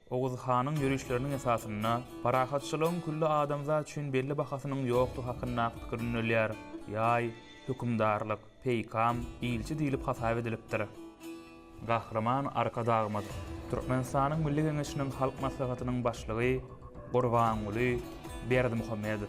Oguz hanyň ýörişleriniň esasynda parahatçylygyň külli adamzat üçin belli bahasynyň ýokdugy hakyndaky pikir ündelýär. Ýaý, hökümdarlyk, peýkam, ilçi diýlip hasap edilipdir. Gahryman Arkadagymyz, Türkmenistanyň Milli Geňeşiniň Halk Maslahatynyň Başlygy Gurbanguly Berdimuhamedow.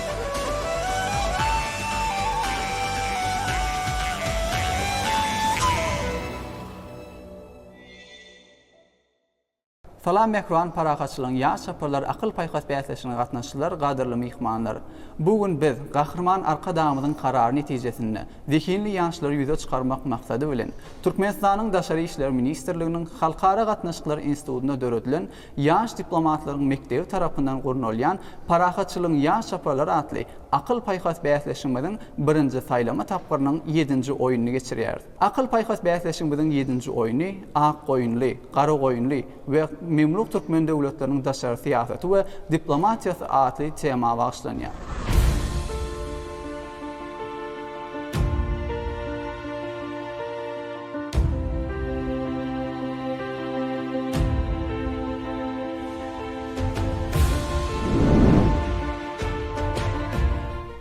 Salam Mähriban parahatçylygyň ýaş çaparlar akyl paýhas bäsleşigine gatnaşyjylar gadyrly myhmanlar! Bu gün biz Gahryman Arkadagymyzyň karary netijesinde zehinli ýaşlary ýüze çykarmak maksady bilen Türkmenistanyň Daşary işler ministrliginiň Halkara gatnaşyklar institutynda döredilen Ýaş diplomatlaryň mekdebi tarapyndan gurnalýan Parahatçylygyň ýaş çaparlary atly akyl-paýhas bäsleşigimiziň birinji saýlama tapgyrynyň ýedinji oýnuny geçirýäris. Akyl-paýhas bäsleşigimiziň ýedinji oýny Akgoýunly, Garagoýunly we Memluk türkmen döwletleriniň daşary syýasaty we diplomatiýasy atly tema bagyşlanýar.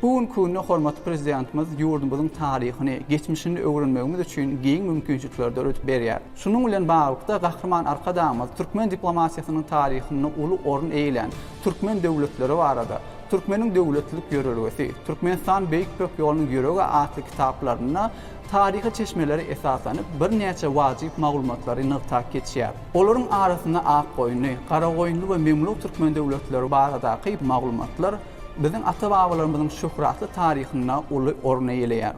Bu günki günde hormatly Prezidentimiz ýurdumyzyň taryhyny, geçmişini öwrenmegimiz üçin giň mümkinçilikleri döredip berýär. Şunuň bilen baglylykda, Gahryman Arkadagymyz türkmen diplomatiýasynyň taryhynda uly orun eýelän türkmen döwletleri barada, Türkmeniň döwletlilik ýörelgesi, Türkmenistan Beýik Ýüpek ýolunyň ýüregi atly kitaplarynda taryhy çeşmelere esaslanyp, birnäçe wajyp maglumatlary nygtap geçýär. Olaryň arasynda Akgoýunly, Garagoýunly we Memluk türkmen döwletleri baradaky maglumatlar biziň ata-babalarymyzyň şöhratly taryhynda uly orun eýeleýär.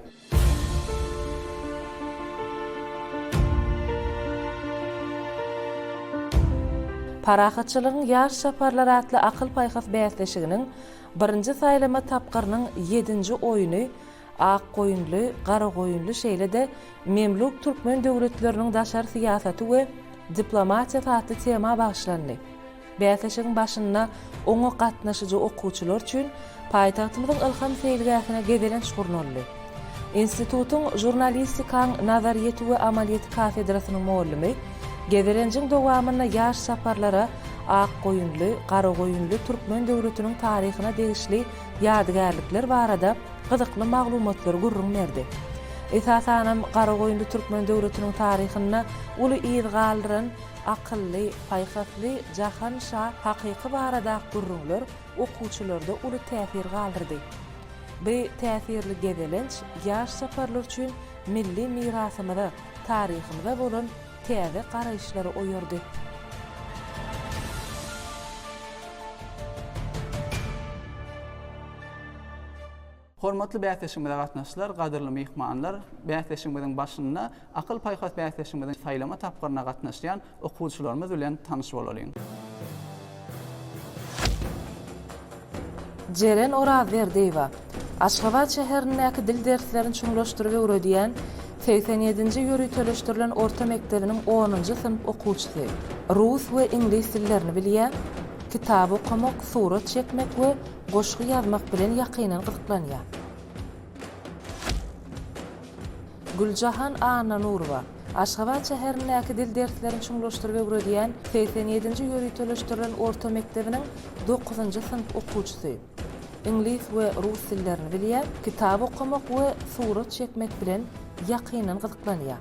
Parahatçylygyň ýaş çaparlary atly akyl-paýhas bäsleşiginiň birinji saýlama tapgyrynyň ýedinji oýny Akgoýunly, Garagoýunly şeýle-de Memluk türkmen döwletleriniň daşary syýasaty we diplomatiýasy atly tema bagyşlandy. Bäsleşigiň başynda oňa gatnaşyjy okuwçylar üçin paýtagtymyzyň Ylham seýilgähine gezelenç gurnaldy. Institutyň Žurnalistikaň nazaryýeti we amalyýeti kafedrasynyň mugallimi gezelenjiň dowamynda ýaş saparlara Akgoýunly, Garagoýunly türkmen döwletiniň taryhyna degişli ýadygärlikler barada gyzykly maglumatlary gürrüň berdi. Esasanam, Garagoýunly türkmen döwletiniň taryhynda uly yz galdyran, Akylly, paýhasly Jahan şa hakyky baradak gürrüňler okuwçylarda uly täsir galdyrdy. By täsirli gezelenç ýaş çaparlar üçin milli mirasymyza, taryhymyza bolan täze garaýyşlary oýardy. Hormatly bäsleşigimize gatnaşyjylar, gadyrly myhmanlar! Bäsleşigimiziň başynda Akyl-paýhas bäsleşigimiziň saýlama tapgyryna gatnaşýan okuwçylarymyz bilen tanyş bolalyň. Jeren Orazberdiýewa, Aşgabat şäherindäki dil derslerini çuňlaşdyryp öwredýän segsen ýedinji ýöriteleşdirilen orta mekdebiniň onunjy synp okuwçysy. Rus we iňlis dillerini bilýär, kitap okamak, surat çekmek we Goşgy ýazmak bilen ýakyndan gyzyklanýar. Güljahan Annanurowa, Aşgabat şäherindäki dil derslerini çuňlaşdyryp öwredýän segsen ýedinji ýöriteleşdirilen orta mekdebiniň dokuzynjy synp okuwçysy. Iňlis we rus dillerini bilýär, kitap okamak we surat çekmek bilen ýakyndan gyzyklanýar.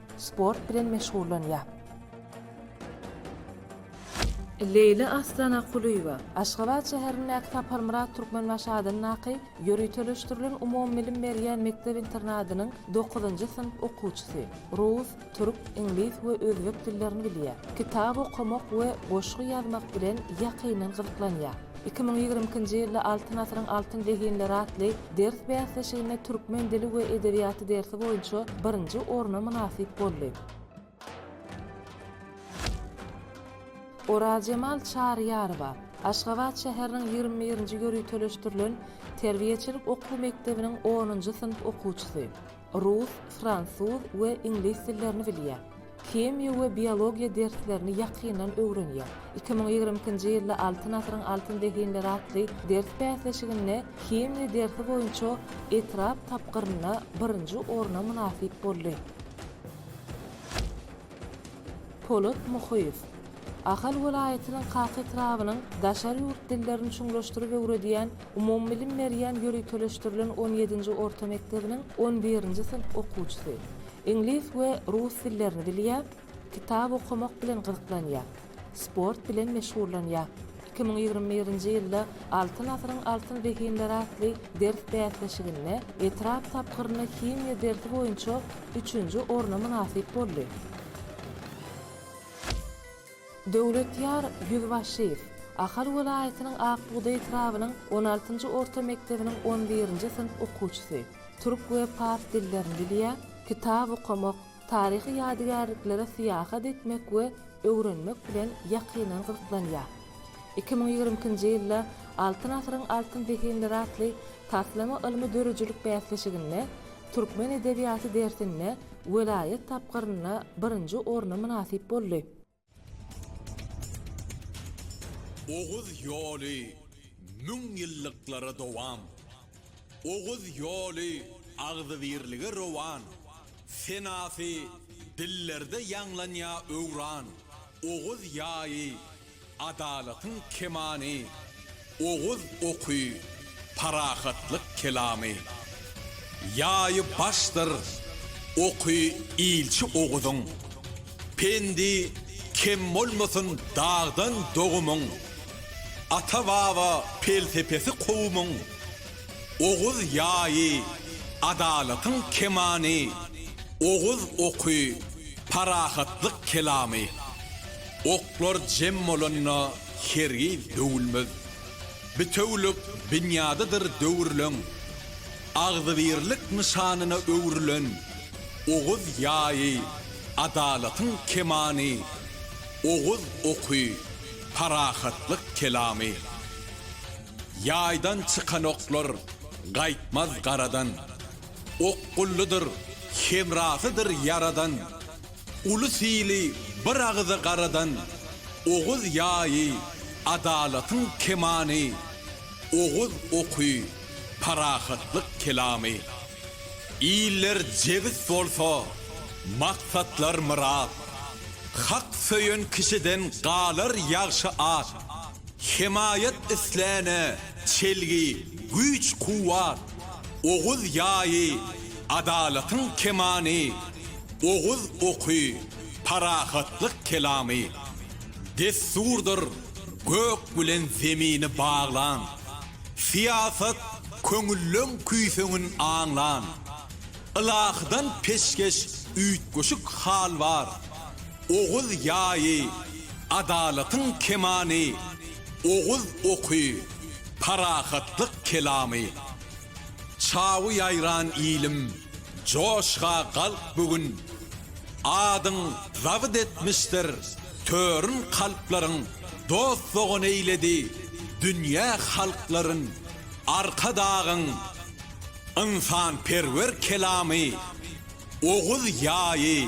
Sport bilen meşgullanýar. Leýla Aslana Kulyýewa, Aşgabat şäherindäki Saparmyrat Türkmenbaşy adyndaky ýöriteleşdirilen umumybilim berýän mekdep-internadynyň dokuzynjy synp okuwçysy. Rus, türk, iňlis we özbek dillerini bilýär. Kitap okamak we goşgy ýazmak bilen ýakyndan gyzyklanýar. Iki müň ýigrimi ikinji ýylda Altyn asyryň altyn zehinleri atly ders bäsleşiginde türkmen dili we edebiýaty dersi boýunça birinji orna mynasyp boldy. Orazjemal Çaryýarowa, Aşgabat şäheriniň ýigrimi birinji ýöriteleşdirilen terbiýeçilik okuw mekdebiniň onunjy synp okuwçysy. rus, fransuz we iňlis dillerini bilýär. Himiýa we biologiýa derslerini ýakyndan öwrenýär. Iki müň ýigrimi ikinji ýylda Altyn asyryň altyn zehinleri atly ders bäsleşiginde himiýa dersi boýunça etrap tapgyrynda birinji orna mynasyp boldy. Polat Muhyýew. Ahal welaýatynyň Kaka etrabynyň daşary ýurt dillerini çuňlaşdyryp öwredýän umumybilim berýän ýöriteleşdirilen on ýedinji orta mekdebiniň on birinji synp okuwçysy. Iňlis we rus dillerini bilýär, kitap okamak bilen gyzyklanýar. sport bilen meşgullanýar. Iki müň ýigrimi birinji ýylda Altyn asyryň altyn zehinleri atly ders bäsleşiginde etrap tapgyrynda himiýa dersi boýunça üçünji orna mynasyp boldy. Döwletýar Ýüzbaşyýew, Ahal welaýatynyň Ak bugdaý etrabynyň on altynjy orta mekdebiniň on birinji synp okuwçysy. Türk we pars dillerini bilýär, kitap okamak, Taryhy ýadygärliklere syýahat etmek we öwrenmek bilen ýakyndan gyzyklanýar. Iki müň ýigrimi ikinji ýylda Altyn asyryň altyn zehinleri atly taslama ylmy-döredijilik bäsleşiginde Türkmen edebiýaty dersinde welaýat tapgyrynda birinji orna mynasyp boldy. Oguz ýoly müň ýyllyklara dowam. Oguz ýoly agzybirlige rowan. Senasy dillerde ýaňlanýa öwran. Oguz ýaýy adalatyň kemany. Oguz oky, parahatlyk kelamy. Ýaýy başdyr oky ilçi Oguzyň. Pendi kem bolmasyn dagdan dogumyň. Ata-baba pelsepesi kowumyň. Oguz ýaýy, adalatyň kemany. Oguz oky, parahatlyk kelamy. Oklar jem bolanda. Hergiz döwülmez. Bitewülik binýadydyr döwürleň. Agzybirlik nyşanyna öwrülen Oguz ýaýy, adalatyň kemany, Oguz oky, parahatlyk kelamy. Ýaýdan çykan oklar gaýtmaz garadan. Okgullydyr, hemrasydyr Ýaradan. Uly sili bir agyza garadan Oguz ýaýy, adalatyň kemany, Oguz oky, parahatlyk kelamy. Iller jebis bolsa, maksatlar myrat, Hak söýen kişiden galar ýagşy at, Hemaýat isläne çelgi, güýç-kuwwat, Oguz ýaýy, adalatyň kemany, Oguz oky, parahatlyk kelamy. Dessurdyr, gök bilen zemini baglan, Syýasat, köňülleň küýseňin aňlan. Ylahydan peşgeş üýtgeşik hal bar, Oguz ýaýy, adalatyň kemany. oguz oky, parahatlyk kelamy. Çawy ýaýran ilim, joşga galk bu gün. Adyň zabyt etmişdir törün kalplaryň, dost-dogan eýledi dünýä halklaryn. Arkadagyň ynsanperwer kelamy, oguz ýaýy.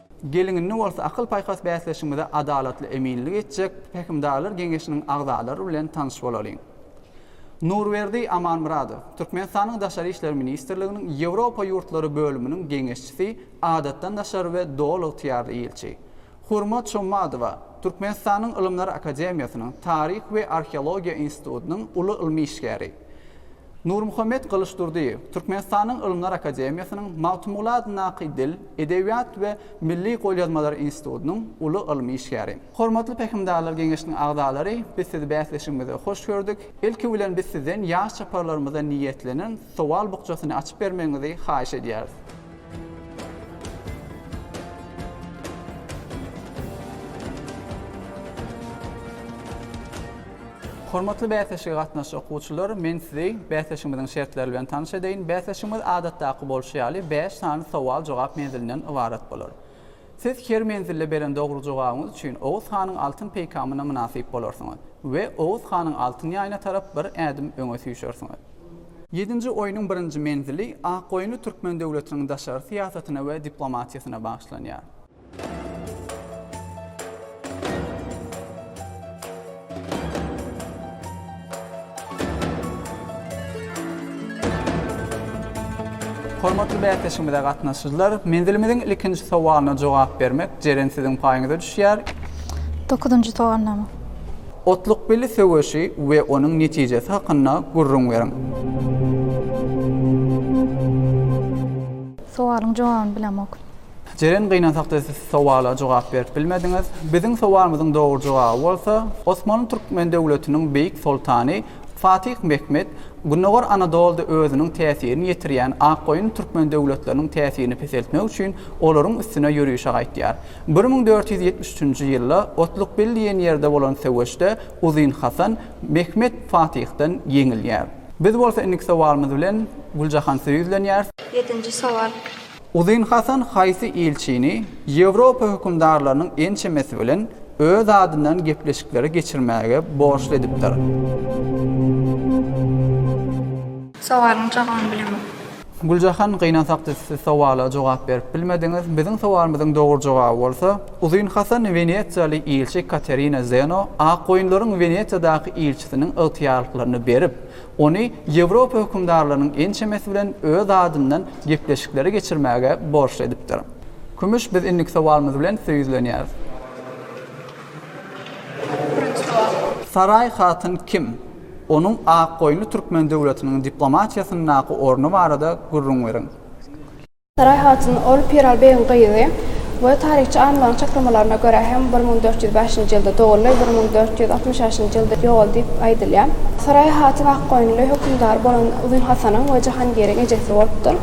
Geliň indi bolsa akyl-paýhas bäsleşigimize adalatly eminlik etjek Pähimdarlar geňeşiniň agzalary bilen tanyş bolalyň. Nurberdi Amanmyradow, Türkmenistanyň Daşary işler ministrliginiň Ýewropa ýurtlary bölüminiň geňeşçisi, adatdan daşary we doly ygtyýarly ilçi. Hurmat Şommadowa, Türkmenistanyň Ylymlar akademiýasynyň Taryh we arheologiýa institutynyň uly ylmy işgäri. Nurmuhammet Gylyçdurdyýew Türkmenistanyň Ylymlar akademiýasynyň Magtymguly adyndaky Dil, edebiýat we milli golýazmalar institutynyň uly ylmy işgäri. Hormatly Pähimdarlar geňeşiniň agzalary, biz sizi bäsleşigimize hoş gördük. Ilki bilen biz sizden ýaş çaparlarymyza niýetlenen sowal bukjasyny açyp bermegiňizi haýyş edýäris. Hormatly bäsleşige gatnaşjak okuwçylar, men sizi bäsleşigimiziň şertleri bilen tanyş edeýin. Bäsleşigimiz adatdaky bolşy ýaly, bäş sany sowal-jogap menzilinden ybarat bolar. Siz her menzilde beren dogry jogabyňyz üçin Oguz hanyň altyn peýkamyna mynasyp bolarsyňyz we Oguz hanyň altyn ýaýyna tarap bir ädim öňe süýşersiňiz. Ýedinji oýnuň birinji menzili Akgoýunly türkmen döwletiniň daşary syýasatyna we diplomatiýasyna bagyşlanýar. Hormatly bäsleşigimize gatnaşyjylar, menzilimiziň ilkinji sowalyna jogap bermek, Jeren siziň paýyňyza düşýär. Dokuzynjy sowalnama. Otlukbili söweşi we onuň netijesi hakynda gürrüň beriň. Sowalyň jogabyny bilemok. Jeren gynansakda siz sowala jogap berip bilmediňiz. Biziň sowalymyzyň dogry jogaby bolsa, Osmanly Türkmen döwletiniň beýik soltany Fatyh Mehmet Gündogar Anadolda özüniň täsirini ýetirýän Akgoýun Türkmen döwletleriniň täsirini peseltmek üçin olaryň üstüne ýörüşe gaýtýar. Bir müň dört ýüz ýetmiş üçünji ýylda Otlukbil diýen ýerde bolan söweşde Uzyn Hasan Mehmet Fatyhdan ýeňilýär. Biz bolsa indiki sowalymyz bilen Güljahan size ýüzlenýäris. Ýedinji sowal. Uzyn Hasan haýsy ilçini Ýewropa hökümdarlarynyň ençemesi bilen öz adyndan gepleşikleri geçirmäge borçly edipdir? Sowalyň jogabyny bilemok. Güljahan gynansakda siz sowala jogap berip bilmediňiz. Biziň sowalymyzyň dogry jogaby bolsa, Uzyn Hasan wenesiýaly ilçi Katerina Zeno akgoýunlaryň Wenesiýadaky ilçisiniň ygtyýarlyklaryny berip, Ony Ýewropa hökümdarlarynyň ençemesi bilen öz adyndan gepleşikleri geçirmäge borçly edipdir. Kümüş biz indiki sowalymyz bilen size ýüzlenýäris. Birinji sowal. Saraý hatyn kim? Onuň Akgoýunly türkmen döwletiniň diplomatiýasyndaky orny barada gürrüň beriň. Saraý hatyn, ol Piral begiň gyzy we taryhçy alymlaryň çaklamalaryna görä hem bir müň dört ýüz bäşinji ýylda doguldy, bir müň dört ýüz altmyş bäşinji ýylda ýogaldy diýip aýdylýar. Saraý hatyn Akgoýunly hökümdary bolan Uzyn Hasanyň we Jahangiriň ejesi bolupdyr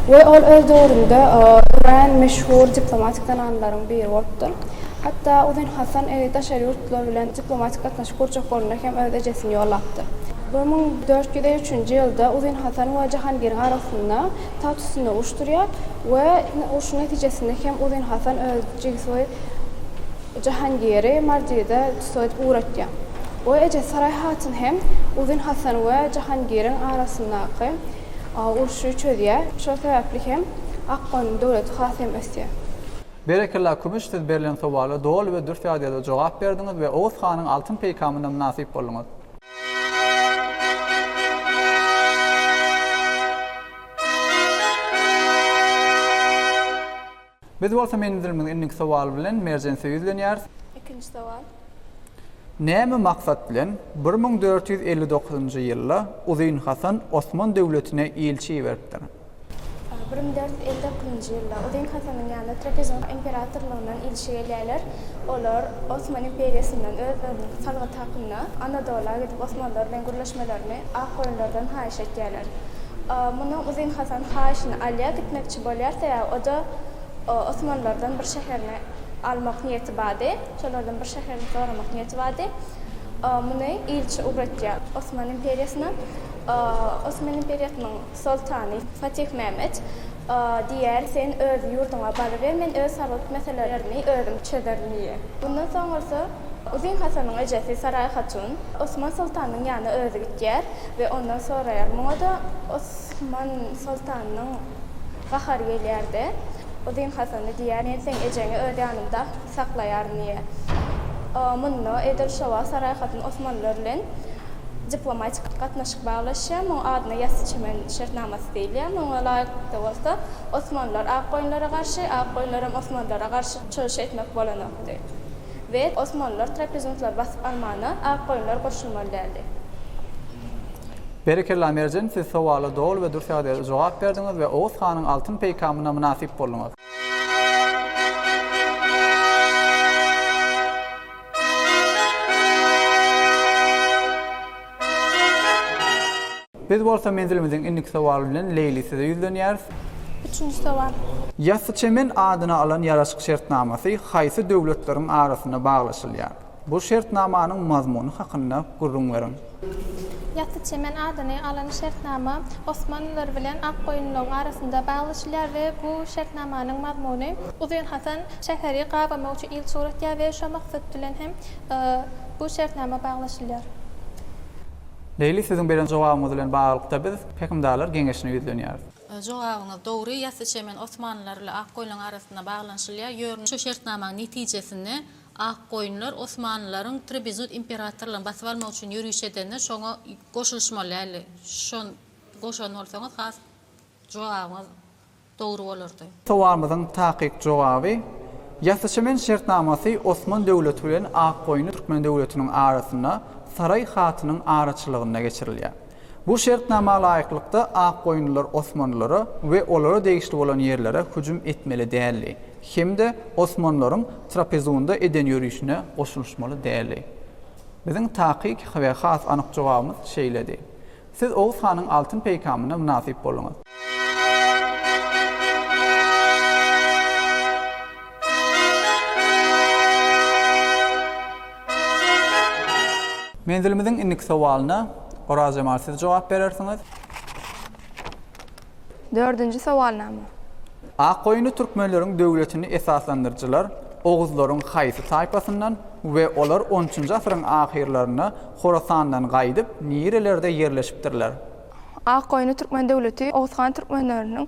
we ol öz döwründe örän meşhur diplomatik zenanlaryň biri bolupdyr. Hatda Uzyn Hasan daşary ýurtlar bilen diplomatik gatnaşyk gurjak bolanda hem öz ejesini ýollapdyr. Bir müň dört ýüz üçünji ýylda Uzyn Hasan we Jahangiriň arasynda Tat üstünde uruşdyrýar we urşuň netijesinde hem Uzyn Hasan öz jigisi we jahangiri Mardide tussag edip ugratýar. We ejesi Saraý hatyn hem Uzyn Hasan we jahangiriň arasyndaky urşy çözýär. Şol sebäpli hem Akgoýunyň döwleti has hem ösýär. Berekella Kümüş siz berlen sowala doly we dürs ýagdaýda jogap berdiňiz we Oguz hanyň altyn peýkamyna mynasyp bolduňyz. Biz bolsa menzilimiz indiki sowal bilen Merjensö ýüzlenýäris. Ikinji sowal. Näme maksat bilen bir müň dört ýüz elli dokuzynjy ýylda Uzyn Hasan Osman döwletine ilçi iberipdir? Bir müň dört ýüz elli dokuzynjy ýylda Uzyn Hasanyň ýanyna Trapezuň imperatorlygyndan ilçi gelýärler. Olar Osman imperiýasyndan özleriniň salgyt hakynda Anadola gidip osmanlar bilen gürleşmelerini Akgoýunlardan haýyş etýärler. Muny Uzyn Hasan haýyşyny alýar, gitmekçi bolýar, sebäbi o-da osmanlardan bir şäherini almak niýeti bardy, şolardan bir şäherini soramak niýeti bardy. Muny ilçi ugratýar Osman imperiýasyna. Osman imperiýasynyň. Soltany, Fatih Mehmet, diýýär, sen öz ýurduňa baryber, men öz salgyt meselelerimi özüm çözerin diýýär. Mundan soň bolsa Uzyn Hasanyň ejesi Saraý hatun Osman soltanynyň ýanyna özi gitýär we ondan soraýar. Muňa-da Osman soltanynyň gahary gelýär-de, Uzyn Hasana diýýär, men seň ejeňi öz ýanymda Saklaýar niýe? O munda edil şo wagt Saraýhatyn Osmanlylar bilen diplomatik gatnaşyk baglaşýar. Muň adyna Ýassyçemen şertnamasy diýilýär. Muňa laýyklykda bolsa Osmanlylar Akgoýunlara garşy, Akgoýunlaram Osmanlylara garşy çyryş etmek bolanokdy. We Osmanlylar Trapezuntlar basyp almana Akgoýunlar goşulmaly däldi. Berekella Merjen siz sowala doly we dürs ýagdaýda jogap berdiňiz we Oguz hanyň altyn peýkamyna mynasyp bolduňyz. Biz bolsa menzilimiziň indiki sowaly bilen Leýli size ýüzlenýäris. Üçünji sowal. Ýassyçemen adyny alan ýaraşyk şertnamasy haýsy döwletleriň arasynda baglaşylýar? Bu şertnamanyň mazmuny hakynda gürrüň beriň. Ýasy çemen adyny alan şertnama Osmanlylar bilen Akgoýunlylaryň arasynda baglaşylýar we bu şertnamanyň mazmuny. Uzyn Hasan şäheri gabamak üçin ilçi ugratýar we şo maksat bilen hem bu şertnama baglaşylýar. Leýli siziň beren jogabyňyz bilen baglylykda biz Häkimdarlar geňeşine ýüzlenýäris. Jogabyňyz dogry, Ýasy çemen Osmanlylar bilen Akgoýunlaryň arasynda baglanyşylýar, ýörün şo şertnamanyň netijesinde Akgoýunlar osmanlylaryň Trebizund imperatorlaryny basyp almak üçin ýöriş edende şoňa goşulyşmaly däldi. Şon goşan bolsaňyz has jogabyňyz dogry bolardy. Sowalymyzyň takyk jogaby, Ýasyçemen şertnamasy Osman döwleti bilen Akgoýunly Türkmen döwletiniň arasynda Saraý hatynyň araçylygynda geçirilýär. Bu şertnama laýyklykda Akgoýunlylar Osmanlylara we olara degişli bolan ýerlere hüjüm etmeli däldi hem-de Osmanlylaryň Trapezunda eden ýörişine goşulyşmaly däldi. Biziň takyk we has anyk jogabymyz şeýledi. Siz Oguz hanyň altyn peýkamyna mynasyp bolduňyz. Menzilimiziň indiki sowalyna Oraz jemal siz jogap berersiňiz. Dördünji sowalnama. Akgoýunly türkmenleriň döwletini esaslandyryjylar oguzlaryň haýsy taýpasyndan we olar onunçynjy asyryň ahyrlarynda Horasandan gaýdyp nirelerde ýerleşipdirler? Akgoýunly türkmen döwleti Oguz han türkmenleriniň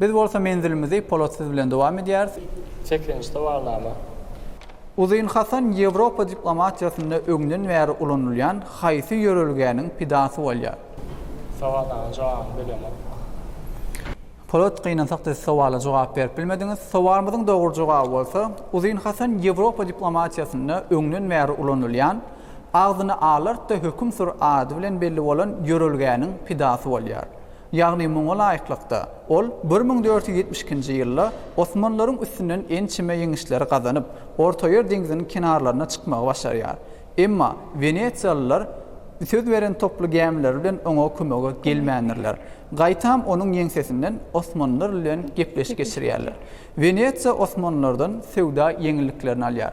Biz bolsa menzilimizi Polat siz bilen dowam edýäris. Çekilen ştowarnama. Uzyn Hasan Ýewropa diplomatiýasynda öňden bäri ulanylýan haýsy ýörelgäniň pidasy bolýar? Sowalnamanyň jogabyny bilemok. Polat, gynansak-da siz sowala jogap berip bilmediňiz. Sowalymyzyň dogry jogaby bolsa, Uzyn Hasan Ýewropa diplomatiýasynda öňden bäri ulanylýan, agzyny alart-da höküm sür ady bilen belli bolan ýörelgäniň pidasy bolýar. Ýagny muňa laýyklykda, ol bir müň dört ýüz ýetmiş ikinji ýylda osmanlaryň üstünden ençeme ýeňişleri gazanyp, Ortaýer deňziniň kenarlaryna çykmagy başarýar. Emma wenesiýalylar söz beren toply gämileri bilen oňa kömege gelmändirler. Gaýtam onuň ýeňsesinden osmanlar bilen gepleşik geçirýärler. Wenesiýa osmanlardan söwda ýeňilliklerini alýar.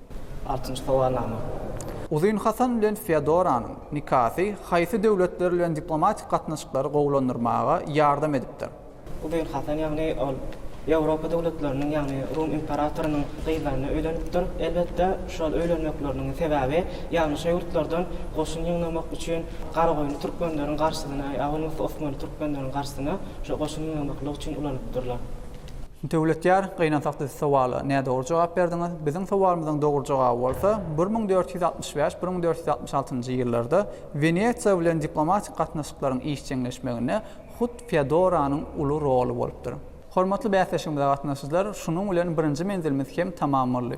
Altynjy sowalnama. Uzyn Hasan bilen Feodoranyň nikasy haýsy döwletler bilen diplomatik gatnaşyklary gowulandyrmaga ýardam edipdir? Uzyn Hasan, ýagny ol Ýewropa döwletleriniň, ýagny Rum imperatorynyň gyzlaryna öýlenipdir. Elbetde, şol öýlenmekleriniň sebäbi ýaňyşa ýurtlardan goşun ýygnamak üçin Garagoýunly türkmenleriň garşysyna ýa bolmasa Osmanly türkmenleriň garşysyna şo goşun ýygnamaklyk üçin ulanypdyrlar. Döwletýar, gynansak siz sowala nädogry jogap berdiňiz. Biziň sowalymyzyň dogry jogaby bolsa, bir müň dört ýüz altmyş bäş, bir müň dört ýüz altmyş altynjy ýyllarda Wenesiýa bilen diplomatik gatnaşyklaryň işjeňleşmeginde hut Feodoranyň uly roly bolupdyr. Hormatly bäsleşigimize gatnaşyjylar, şunuň bilen birinji menzilimiz hem tamam boldy.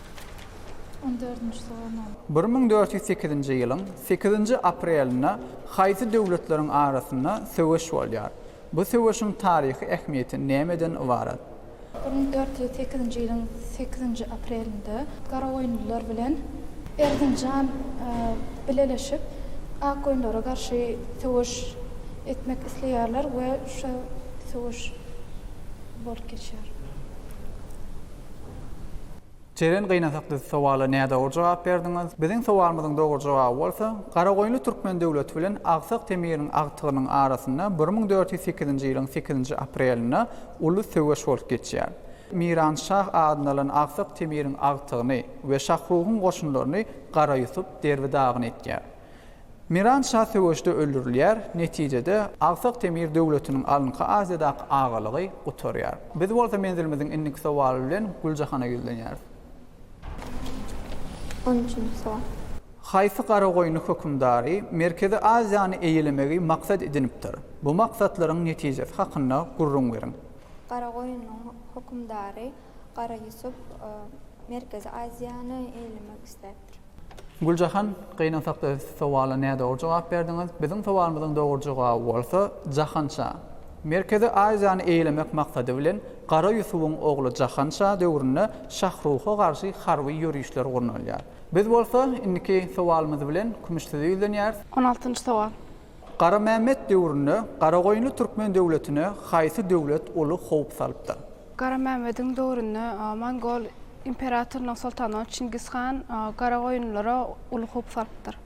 On dördünji soragnama. Bir müň dört ýüz sekizinji ýylyň sekizinji aprelinde haýsy döwletleriň arasynda söweş bolýar? Bu söweşiň taryhy ähmiýeti nämeden ybarat? Bir müň dört ýüz sekizinji ýylyň sekizinji aprelinde garagoýunlylar bilen Erzinjan bileleşip akgoýunlara garşy söweş etmek isleýärler we şo söweş bolup geçýär. Jeren gynasak siz sowala nädogry jogap berdiňiz. Biziň sowalymyzyň dogry jogaby bolsa, Garagoýunly türkmen döwleti bilen Agsak Temiriň agtygynyň arasynda bir müň dört ýüz sekizinji ýylyň sekizinji aprelinde uly söweş bolup geçýär. Miran şah adyny alan Agsak Temiriň agtygyny we Şahrugyň goşunlaryny Gara Ýusup derbi-dagyn etýär. Miran şa söweşde öldürilýär, netijede, Agsak Temir döwletiniň alynky Aziýadaky agalygy gutarýar. Biz bolsa menzilimiziň indiki sowaly bilen Güljahana ýüzlenýäris. On üçünji sowal. Haýsy Garagoýunly hökümdary Merkezi Aziýany eýelemegi maksat edinipdir? Bu maksatlaryň netijesi hakynda gürrüň beriň. Garagoýunlyň hökümdary Gara Ýusup Merkezi Aziýany eýelemek isläpdir. Güljahan, gynansakda sowala nädogry jogap berdiňiz. Biziň sowalymyzyň dogry jogaby bolsa, Jahanşa. Merkezi Aziýany eýelemek maksady bilen Gara Ýusubyň ogly Jahanşa döwründe Şahruha garşy harby ýörişler gurnalýar. Biz bolsa, indiki sowalymyz bilen Kümüşsize ýüzlenýäris. On altynjy sowal. Garamämmet döwründe Garagoýunly türkmen döwletine haýsy döwlet uly howp salypdyr? Garamämmediň döwründe mongol imperatorynyň soltany Çingiz han Garagoýunlylara uly howp salypdyr.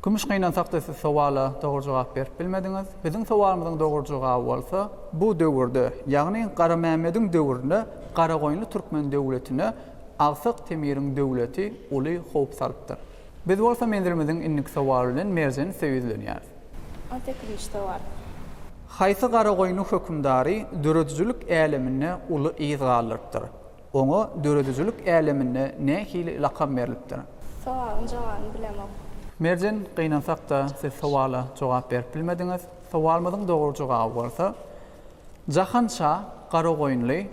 Kümüş gynansak-da siz sowala dogry jogap berip bilmediňiz. Biziň sowalymyzyň dogry jogaby bolsa, bu döwürde, ýagny Garamämmediň döwründe Garagoýunly türkmen döwletine Agsak Temiriň döwleti uly howp salypdyr. Biz bolsa menzilimiziň indiki sowary bilen merjen üste ýüzlenýäris. Ate Kriştowar. Haýsy Garagoýunly hökümdary döredijilik äleminde uly yz galdyrypdyr? Oňa döredijilik äleminde nähili lakam berlipdir? Sowalyň jogabyny bilemok. Merjen, gynansak-da, siz sowala jogap berip bilmediňiz. Sowalymyzyň dogry jogaby bolsa. Jahan şa Garagoýunly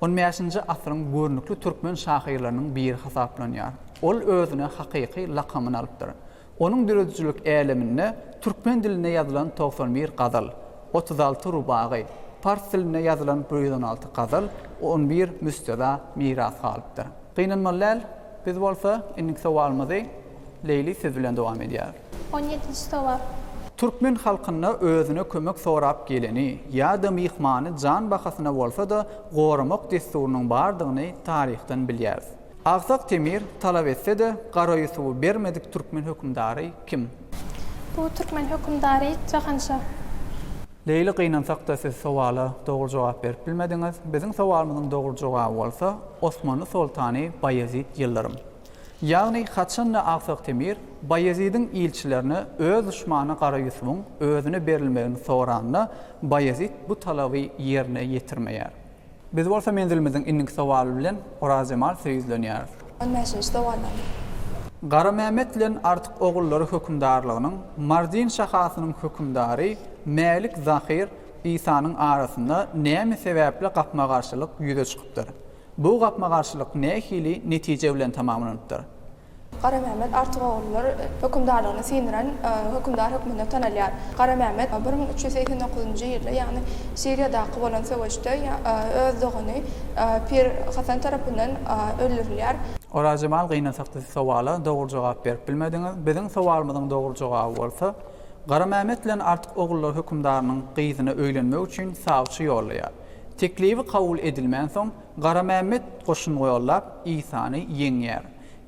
on bäşinji asyryň görnükli türkmen şahyrlarynyň biri hasaplanýar. Ol özüne hakyky lakamyny alypdyr. Onuň döredijilik äleminde türkmen dilinde ýazylan togsan bir gazal, otuz alty rubagy, pars dilinde ýazylan bir ýüz on alty gazal, on bir müsteza miras galypdyr. Gynanmaly däl, biz bolsa indiki sowalymyzy Leýli siz bilen dowam edýäris. On ýedinji sowal. Türkmen halkynda özüne kömek sorap geleni ýa-da myhmany jan bahasyna bolsa-da goramak dessurynyň bardygyny taryhdan bilýäris. Agsak Temir talap etse-de Gara Ýusuby bermedik türkmen hökümdary kim? Bu türkmen hökümdary Jahanşa. Leýli gynansak-da siz sowala dogry jogap berip bilmediňiz. Biziň sowalymyzyň dogry jogaby bolsa Osmanly soltany Baýezit Ýyldyrym. Ýagny haçan-da Agtyk Temir Baýezidiň ilçilerine öz duşmany Gara Ýusubyň özüne berilmegini soranda, Baýezit bu talaby ýerine ýetirmeýär. Biz bolsa menzilimiziň indiki sowaly bilen Orazjemal söýüzlenýäris. On bäşinji sowal. Garamämmet bilen Artyk ogullary hökümdarlygynyň Mardin şahasynyň hökümdary Mälik Zahyr Isanyň arasynda näme sebäpli gapma-garşylyk ýüze çykypdyr? Bu gapma-garşylyk nähili netije bilen tamamlanypdyr? Garamehmet Artygogullar hökümdarlygyny syndyran hökümdar hökmünde tanalýar. Garamehmet bir müň üç ýüz segsen dokuzynjy ýylda, ýagny Siriýadaky bolan söweşde öz dogany Pir Hasan tarapyndan öldürilýär. Orazjemal gynasakda siz sowala dogry jogap berip bilmediňiz. Biziň sowalymyzyň dogry jogaby bolsa, Garamehmet bilen Artykogullar hökümdarynyň gyzyna öýlenmek üçin sawçy ýollaýar. Teklibi kabul edilmänsoň, Garamämmet goşun ýollap, Isany ýeňýär.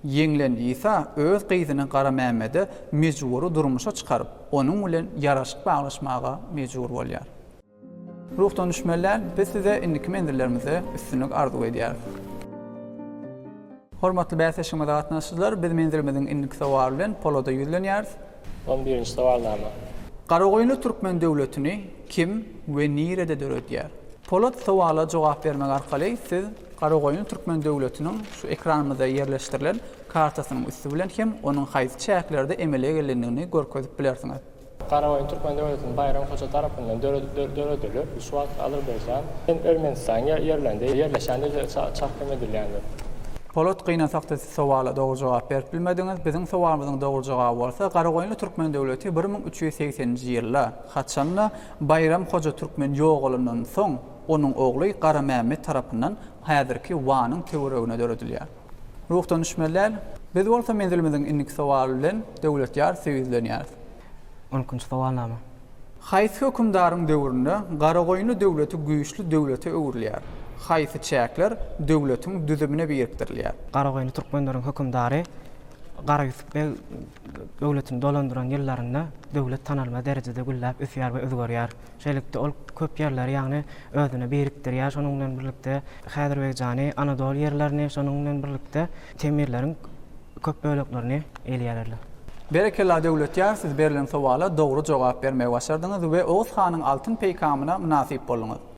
Ýeňlen Isa öz gyzyny Garamämmede mejbury durmuşa çykaryp, onuň bilen ýaraşyk baglaşmaga mejbur bolýar. Ruhdan düşmelär, biz size indiki menzillerimizde üstünlik arzuw edýäris. Hormatly bäsleşigimize gatnaşyjylar, biz menzilimiziň indiki sowal bilen Polada ýüzlenýäris. On birinji sowalnama. Garagoýunly türkmen döwletini kim we nirede döredýär? Polat sowala jogap bermek arkaly siz Garagoýunly türkmen döwletiniň şu ekranymyzda ýerleşdirilen kartasynyň üsti bilen hem onuň haýsy çäklerde emele gelendigini görkezip bilersiňiz. Garaoýun türkmen döwletiniň Baýram hoja tarapyndan döredilip, şu wagtky Azerbaýjan bilen Ermenistan ýerlerinde ýerleşen diýlip çakym edilýändir. Polat gynasakda siz sowala dogry jogap berip bilmediňiz, biziň sowalymyzyň dogry jogaby bolsa Garagoýunly türkmen döwleti bir müň üç ýüz segsen nji ýylda, haçanda Baýram hoja türkmen ýogalandan soň onuň ogly Garamämmet tarapyndan häzirki Wanyň töweregine döredilýär. Ruhdan düşmeli däl. Biz bolsa menzilimiziň indiki sowaly bilen Döwlet ýar söýüzlenýäris. Ülkünç sowal name? Haýsy hökümdaryň döwründe Garagoýunly döwleti güýçli döwlete öwrülýär? Haýsy çäkler döwletiň düzümine birikdirilýär? Garagoýunly türkmenleriň hökümdary Gara Ýusup beg Döwletini dolandyran ýyllarynda döwlet tanalmaz derejede gülläp ösýär we özgerýär. Şeýlelikde, ol köp ýerleri, ýagny özüne birikdirýär. Şonuň bilen birlikde, Häzirbegijany, Anadol ýerlerini, şonuň bilen birlikde, Temirleriň köp böleklerini elýärerler. Berekella Döwletýar siz berlen sowala dogry jogap bermegi başardyňyz we Oguz hanyň altyn peýkamyna mynasyp bolduňyz.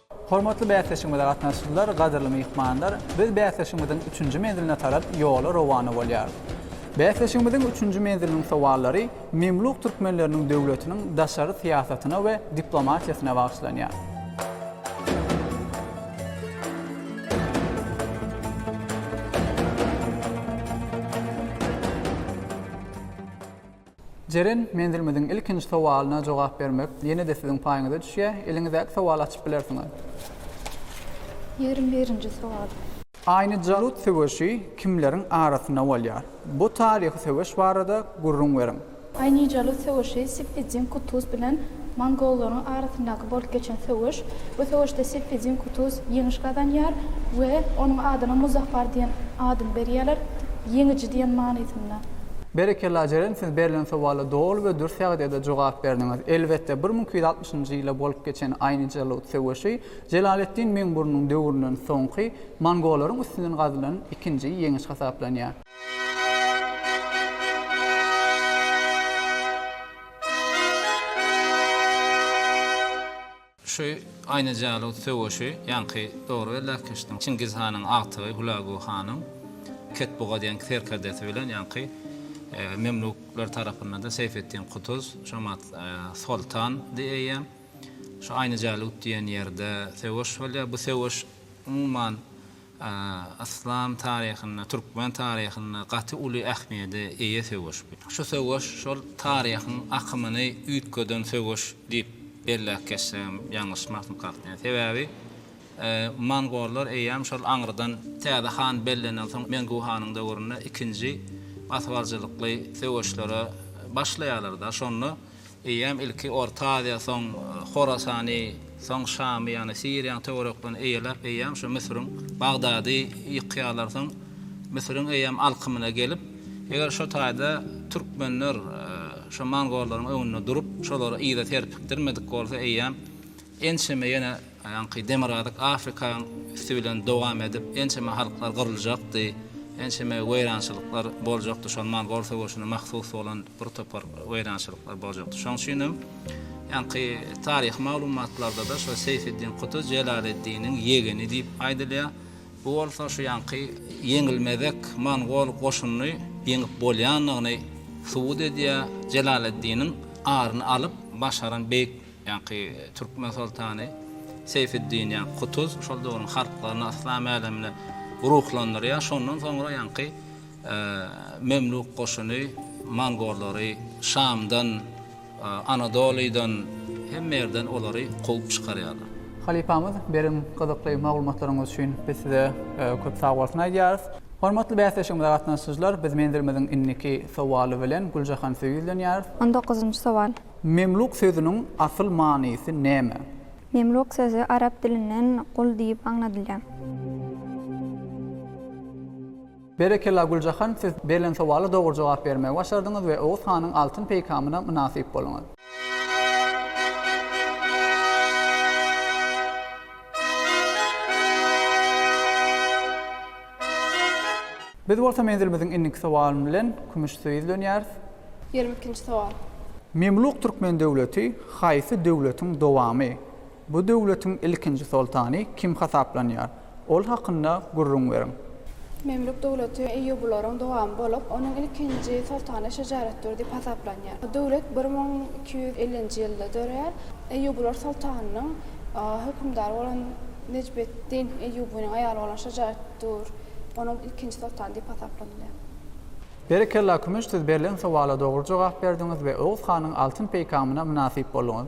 Hormatly bäsleşigimize gatnaşyjylar, gadyrly myhmanlar! Biz bäsleşigimiziň üçünji menziline tarap ýola rowana bolýarys. Bäsleşigimiziň üçünji menziliniň sowallary Memluk türkmenleriniň döwletiniň daşary syýasatyna we diplomatiýasyna bagyşlanýar. Jeren menzilimiziň ilkinji sowalyna jogap bermek ýene-de siziň paýyňyza düşýär. Eliňizdäki sowaly açyp bilersiňiz. Ýigrimi birinji sowal. Aýny-Jalut söweşi kimleriň arasynda bolýar? Bu taryhy söweş barada gürrüň beriň. Aýny-Jalut söweşi Sippiddin Kutuz bilen Mongollaryň arasyndaky bolup geçen söweş. Bu söweşde Sefedin Kutuz ýeňiş gazanýar we onuň adyna Muzaffar diýen adyny berýärler, ýeňiji diýen manysynda. Berekella Jeren siz berlen sowala doly we dürs ýagdaýda jogap berdiňiz. Elbetde bir müň iki ýüz altmyşynjy ýylda bolup geçen Aýnyjalut söweşi Jelaleddin Meňburnuň döwründen soňky mongollaryň üstünden gazylan ikinji ýeňiş hasaplanýar. Şu Aýnajälow söweşi ýaňky dogry belläp geçdiň. Çingiz hanyň agtygy Hulagu hanyň Ketbuga diýen serkerdesi bilen ýaňky Memluklar tarapyndan-da Seýfetdin Kutuz, Şamat Soltan di eýýäm. Şu Aýnajälut diýen ýerde söweş bolýar. Bu söweş umuman Yslam taryhynda, türkmen taryhynda gaty uly ähmiýede eýe söweş bu. Şu söweş şol taryhyň akymyny üýtgeden söweş diýip belläp geçsegem ýalňyşmasyn kalkýan. Sebäbi mongollar eýýäm şol aňrydan täze han bellenensoň Mengu hanyň döwründe ikinji basybaljylykly söweşlere başlaýarlar-da, şonda Eýýäm ilki Orta Aziýa, soň Horasany, soň Şamy, ýagny Siriýanyň töwereklerini eýeläp, eýýäm şu Müsüriň Bagdady ýykýarlar. Soň Müsüriň eýýäm alkymyna gelip, eger şo taýda türkmenler şo mongollaryň öňünde durup, şolary yza serpikdirmedik bolsa, eýýäm Ençeme ýene aýaňky demirgazyk Afrikaň üsti bilen dowam edip, ençeme halklar gyryljakdy, ençeme weýrançylyklar boljakdy, şol mongol söweşine mahsus bolan bir topar weýrançylyklar boljakdy. Şoň üçin hem ýaňky taryhy maglumatlarda-da şo Seýfeddin Kuty Jelaleddiniň ýegeni diýip aýdylýar. Bu bolsa şu ýaňky ýeňilmezek mongol goşunyny ýeňip bolýandygyny subut edýär. Jelaleddiniň aryny alyp başaran beýik Ýaňky türkmen soltany Seýfiddin ýa Kutuz şol döwrüň halklaryny yslam älemine ruhlandyrýar. Şondan soňra ýaňky Memluk goşuny mongollary Şamdan, Anadolydan hemme ýerden olary kowup çykarýarlar. Halypamyz, beren gyzykly maglumatlaryňyz üçin biz size köp sag bolsun aýdýarys. Hormatly bäsleşigimize gatnaşyjylar, biz menzilimiziň indiki sowaly bilen Güljahan size ýüzlenýäris. On dokuzynjy sowal. Memluk sözüniň asyl manysy näme? Memluk sözi arap dilinden gul diýip aňladylýar. Berekella Güljahan siz berlen sowala dogry jogap bermegi başardyňyz we Oguz hanyň altyn peýkamyna mynasyp bolyňyz. Biz bolsa menzilimiziň indiki sowalyny bilen Kümüşsuwa ýüzlenýäris. Ýigrimi ikinji sowal. Memluk türkmen döwleti haýsy döwletiň dowamy? Bu döwletiň ilkinji soltany kim hasaplanýar? Ol hakynda gürrüň beriň. Memluk döwleti eýýubularyň dowamy bolup, onuň ilkinji soltany Şejaretdür diýip hasaplanýar. Bu döwlet bir müň iki ýüz ellinji ýylda döreýär. Eýýubular soltanynyň hökümdary bolan Nejbeddin Eýýubynyň aýaly bolan Şajaetdur, onuň ilkinji soltany diýip hasaplanylýar. Berekella Kümüş siz berlen sowala dogry jogap berdiňiz we Oguz hanyň altyn peýkamyna mynasyp bolduňyz.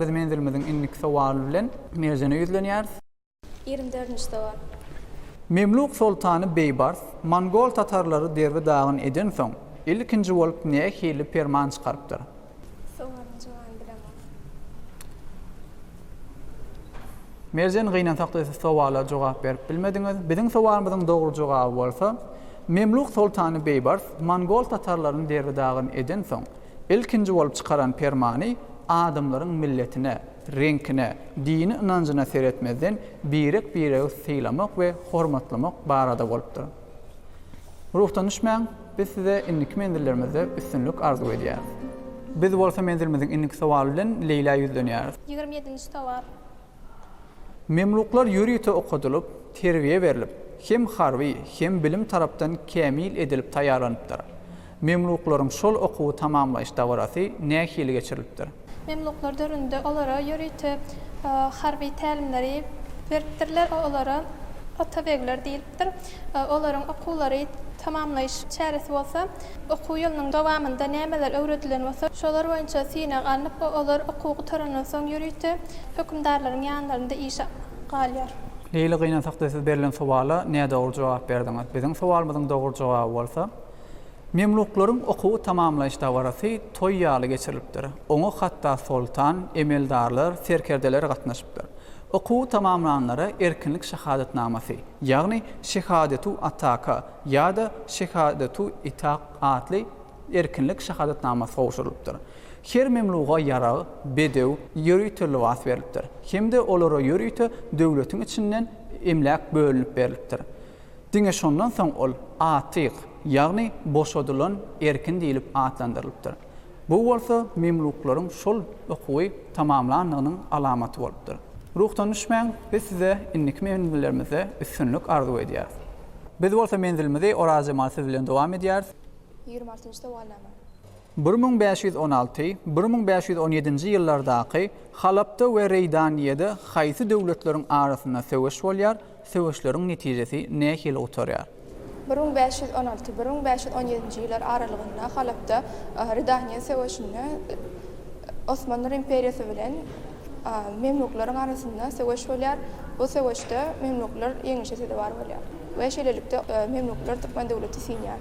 Biz menzilimiziň indiki sowaly bilen Merjene ýüzlenýäris. Ýigrimi dördünji sowal. Memluk soltany Beýbars mongol tatarlary derbi-dagyn edensoň, ilkinji bolup nähili perman çykarypdyr? Sowalyň jogany bilemok. Merjen gynansak-da siz sowala jogap berip bilmediňiz. Biziň sowalymyzyň dogry jogaby bolsa, Memluk soltany Beýbars mongol tatarlaryny derbi-dagyn edensoň, ilkinji bolup çykaran permany adamlaryň milletine, reňkine, dini ynanjyna seretmezden birek-biregi sylamak we hormatlamak barada bolupdyr. Ruhdan düşmäň, biz size indiki menzilleriňizde üstünlik arzuw edýäris. Biz bolsa menzilimiziň indiki sowaly bilen Leýlä ýüzlenýäris. Ýigrimi ýedinji sowal. Memluklar ýörite okadylyp, terbiýe berlip, hem harby, hem bilim tarapdan kämil edilip taýýarlanypdyr. Memluklaryň şol okuwy tamamlaýyş dabarasy nähili geçirilipdir? Memluklar döwründe olara ýörite harby tälimleri beripdirler, olara atabegler diýilipdir. Olaryň okuwlary tamamlaýyş çäresi bolsa, okuw ýylynyň dowamynda nämeler öwredilen bolsa, şolar boýunça synag alnyp, olar okuw gutarandan soň ýörite hökümdarlaryň ýanlarynda işe galýar. Leýli gynansak-da siz berlen sowala nädogry jogap berdiňiz. Biziň sowalymyzyň dogry jogaby bolsa. Memluklaryň okuwy tamamlaýyş dabarasy toý ýaly geçirilipdir. Oňa hatda soltan, emeldarlar, serkerdeler gatnaşypdyr. Okuwy tamamlanlara erkinlik şahadatnamasy, ýagny şehadetu ataka ýa-da şehadetu itak atly erkinlik şahadatnamasy gowşurylypdyr. Her memluga ýarag, bedew, ýörite lybas berlipdir hem-de olara ýörite döwletiň içinden emläk bölünip berlipdir. Diňe şondan soň ol Atyk, ýagny boşadylan erkin diýlip atlandyrylypdyr. Bu bolsa memluklaryň şol okuwy tamamlandygynyň alamaty bolupdyr. Ruhdan düşmäň, biz size indiki menzillerimizde üstünlik arzuw edýäris. Biz bolsa menzilimizi Orazjemal siz bilen dowam edýäris. Ýigrimi altynjy sowalnama. Bir müň bäş ýüz on alty, bir müň bäş ýüz on ýedinji ýyllardaky Halapda we Reýdaniýede haýsy döwletleriň arasynda söweş bolýar, söweşleriň netijesi nähili gutarýar? Bir müň bäş ýüz on alty, bir müň bäş ýüz on ýedinji ýyllar aralygynda Halapda Ridaniýa söweşinde Osmanly imperiýasy bilen Memluklaryň arasynda söweş bolýar. Bu söweşde Memluklar ýeňişe sezewar bolýar we şeýlelikde Memluklar türkmen döwleti siňýär.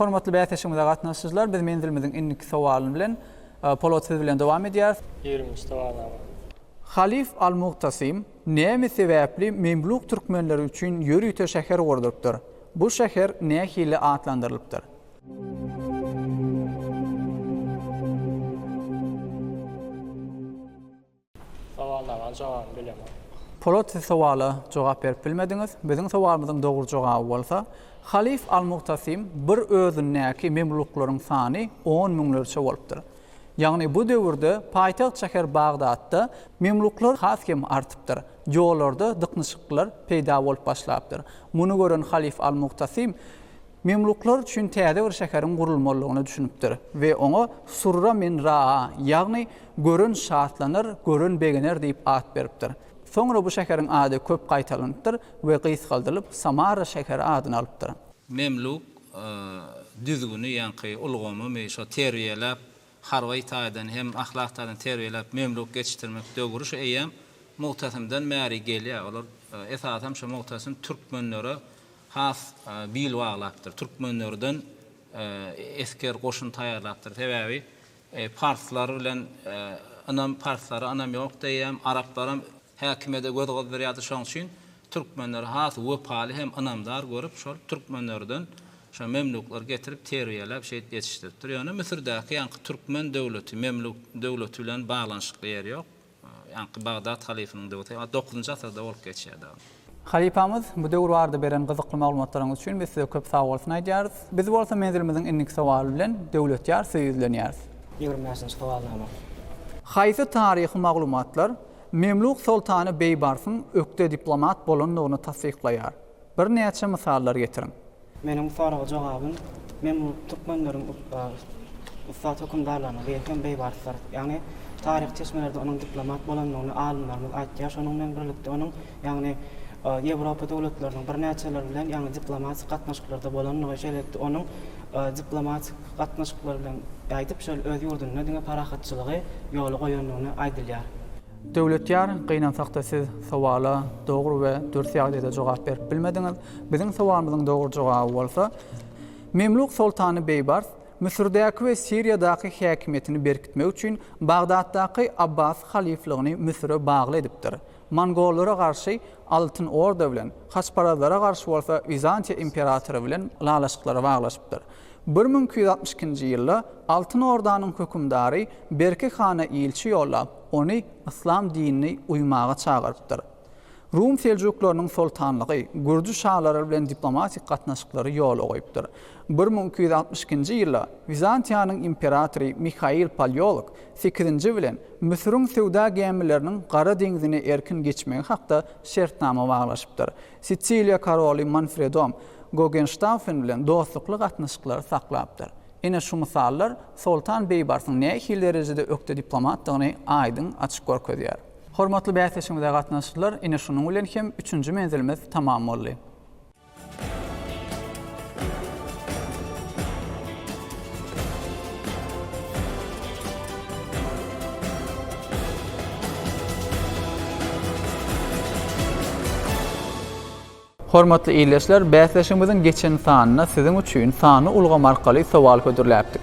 Hormatly bäsleşigimize gatnaşyjylar, biz menzilimiziň indiki sowalyny bilen Polat siz bilen dowam edýäris. Ýigriminji sowalnama. Halyf al-Mugtasim näme sebäpli Memluk türkmenleri üçin ýörite şäher gurdurypdyr? Bu şäher nähili atlandyrylypdyr? Sowalnamaň jogabyny bilemok. Polat siz sowala jogap berip bilmediňiz. Biziň sowalymyzyň dogry jogaby bolsa, Halyf al-Muhtasym bir özündäki memluklaryň sany on müňlerçe bolupdyr. Ýagny bu döwürde paýtagt şäher Bagdatda memluklar has hem artypdyr. Ýollarda dyknyşyklylar peýda bolup başlapdyr. Muny gören Halyf al-Muhtasym Memluklar üçin täze bir şäheriň gurulmalydygyna düşünipdir we oňa Surra min Raa, ýagny Gören şatlanar, gören begener diýip at beripdir. Soňra bu şäheriň ady köp gaýtalanypdyr we gysgaldylyp Samara şäheri adyny alypdyr. Memluk düzgüni ýaňky ulgamymy şo terbiýeläp harby taýdan hem ahlak taýdan terbiýeläp memluk geçişdirmek döwri şu eýýäm Mugtasymdan bäri gelýär. Olar esasam şu Mugtasym türkmenlere has bil baglapdyr. Türkmenlerden esger goşun taýýarlapdyr. Sebäbi parslar bilen ynam parslara ynam ýok diýýär. Araplaram häkimiýete göz gyzdyrýardy. Şoň üçin Türkmenleri has wepaly hem ynamdar görüp, şol türkmenlerden şo memluklary getirip terbiýeläp, şeýdip ýetişdiripdir. Ýöne Müsürdäki ýaňky türkmen döwleti, memluk döwleti bilen baglanyşykly ýeri ýok. Ýaňky Bagdat halyfynyň döwti, a, dokuzynjy asyrda bolup geçýär dagy. Halypamyz, bu döwür barada beren gyzykly maglumatlaryňyz üçin biz size köp sagbolsun aýdýarys. Biz bolsa menzilimiziň indiki sowaly bilen Döwletýar size ýüzlenýäris. Ýigrimi bäşinji sowalnama. Haýsy taryhy maglumatlar Memluk soltany Beýbarsyň ökde diplomat bolandygyny tassyklaýar. Birnäçe mysallar getiriň. Meniň soraga jogabym, Memluk türkmenleriň ussat hökümdarlarynyň biri hem Beýbarsdyr. Ýagny, taryhy çeşmelerde onuň diplomat bolandygyny alymlarymyz aýtýar. Şonuň bilen birlikde onuň ýagny Ýewropa döwletleriniň birnäçeleri bilen ýagny diplomatik gatnaşyklarda bolandygy, şeýlelikde onuň diplomatik gatnaşyklar bilen gaýdyp şol öz ýurdunda diňe parahatçylygy ýola goýandygyny aýdylýar. Döwletýar, gynansakda siz sowala dogry we dürs ýagdaýda jogap berip bilmediňiz. Biziň sowalymyzyň dogry jogaby bolsa, Memluk soltany Beýbars Müsürdäki we Siriýadaky häkimiýetini berkitmek üçin Bagdatdaky Abbasy halyflygyny Müsüre bagly edipdir. Mongollara garşy Altyn Orda bilen, haçparazlara garşy bolsa Wizantiýa imperatory bilen ylalaşyklara baglaşypdyr. Bir müň iki ýüz altmyş ikinji ýylda Altyn Ordanyň hökümdary Berki hana ilçi ýollap, ony yslam dinini uýmaga çagyrypdyr. Rum Seljuklarynyň soltanlygy Gürji şalary bilen diplomatik gatnaşyklary ýola goýupdyr. Bir müň iki ýüz altmyş ikinji ýylda Wizantiýanyň imperatory Mihail Palýolog Sekizinji bilen, Müsüriň söwda gämileriniň Gara deňzini erkin geçmegi hakda şertnama baglaşypdyr. Sisiliýa koroly Manfredom Gogenştaufen bilen dostlukly gatnaşyklary saklapdyr. Ine şu mysallar Soltan Beýbarsyň nähili derejede ökde diplomatdygyny aýdyň açyp görkezýär. Hormatly bäsdeşimize gatnaşyjylar, ine şunuň bilen hem üçünji menzilimiz tamam boldy. Hormatly ildeşler, bäsleşigimiziň geçen sanyna siziň üçin sany ulgam arkaly sowal hödürläpdik.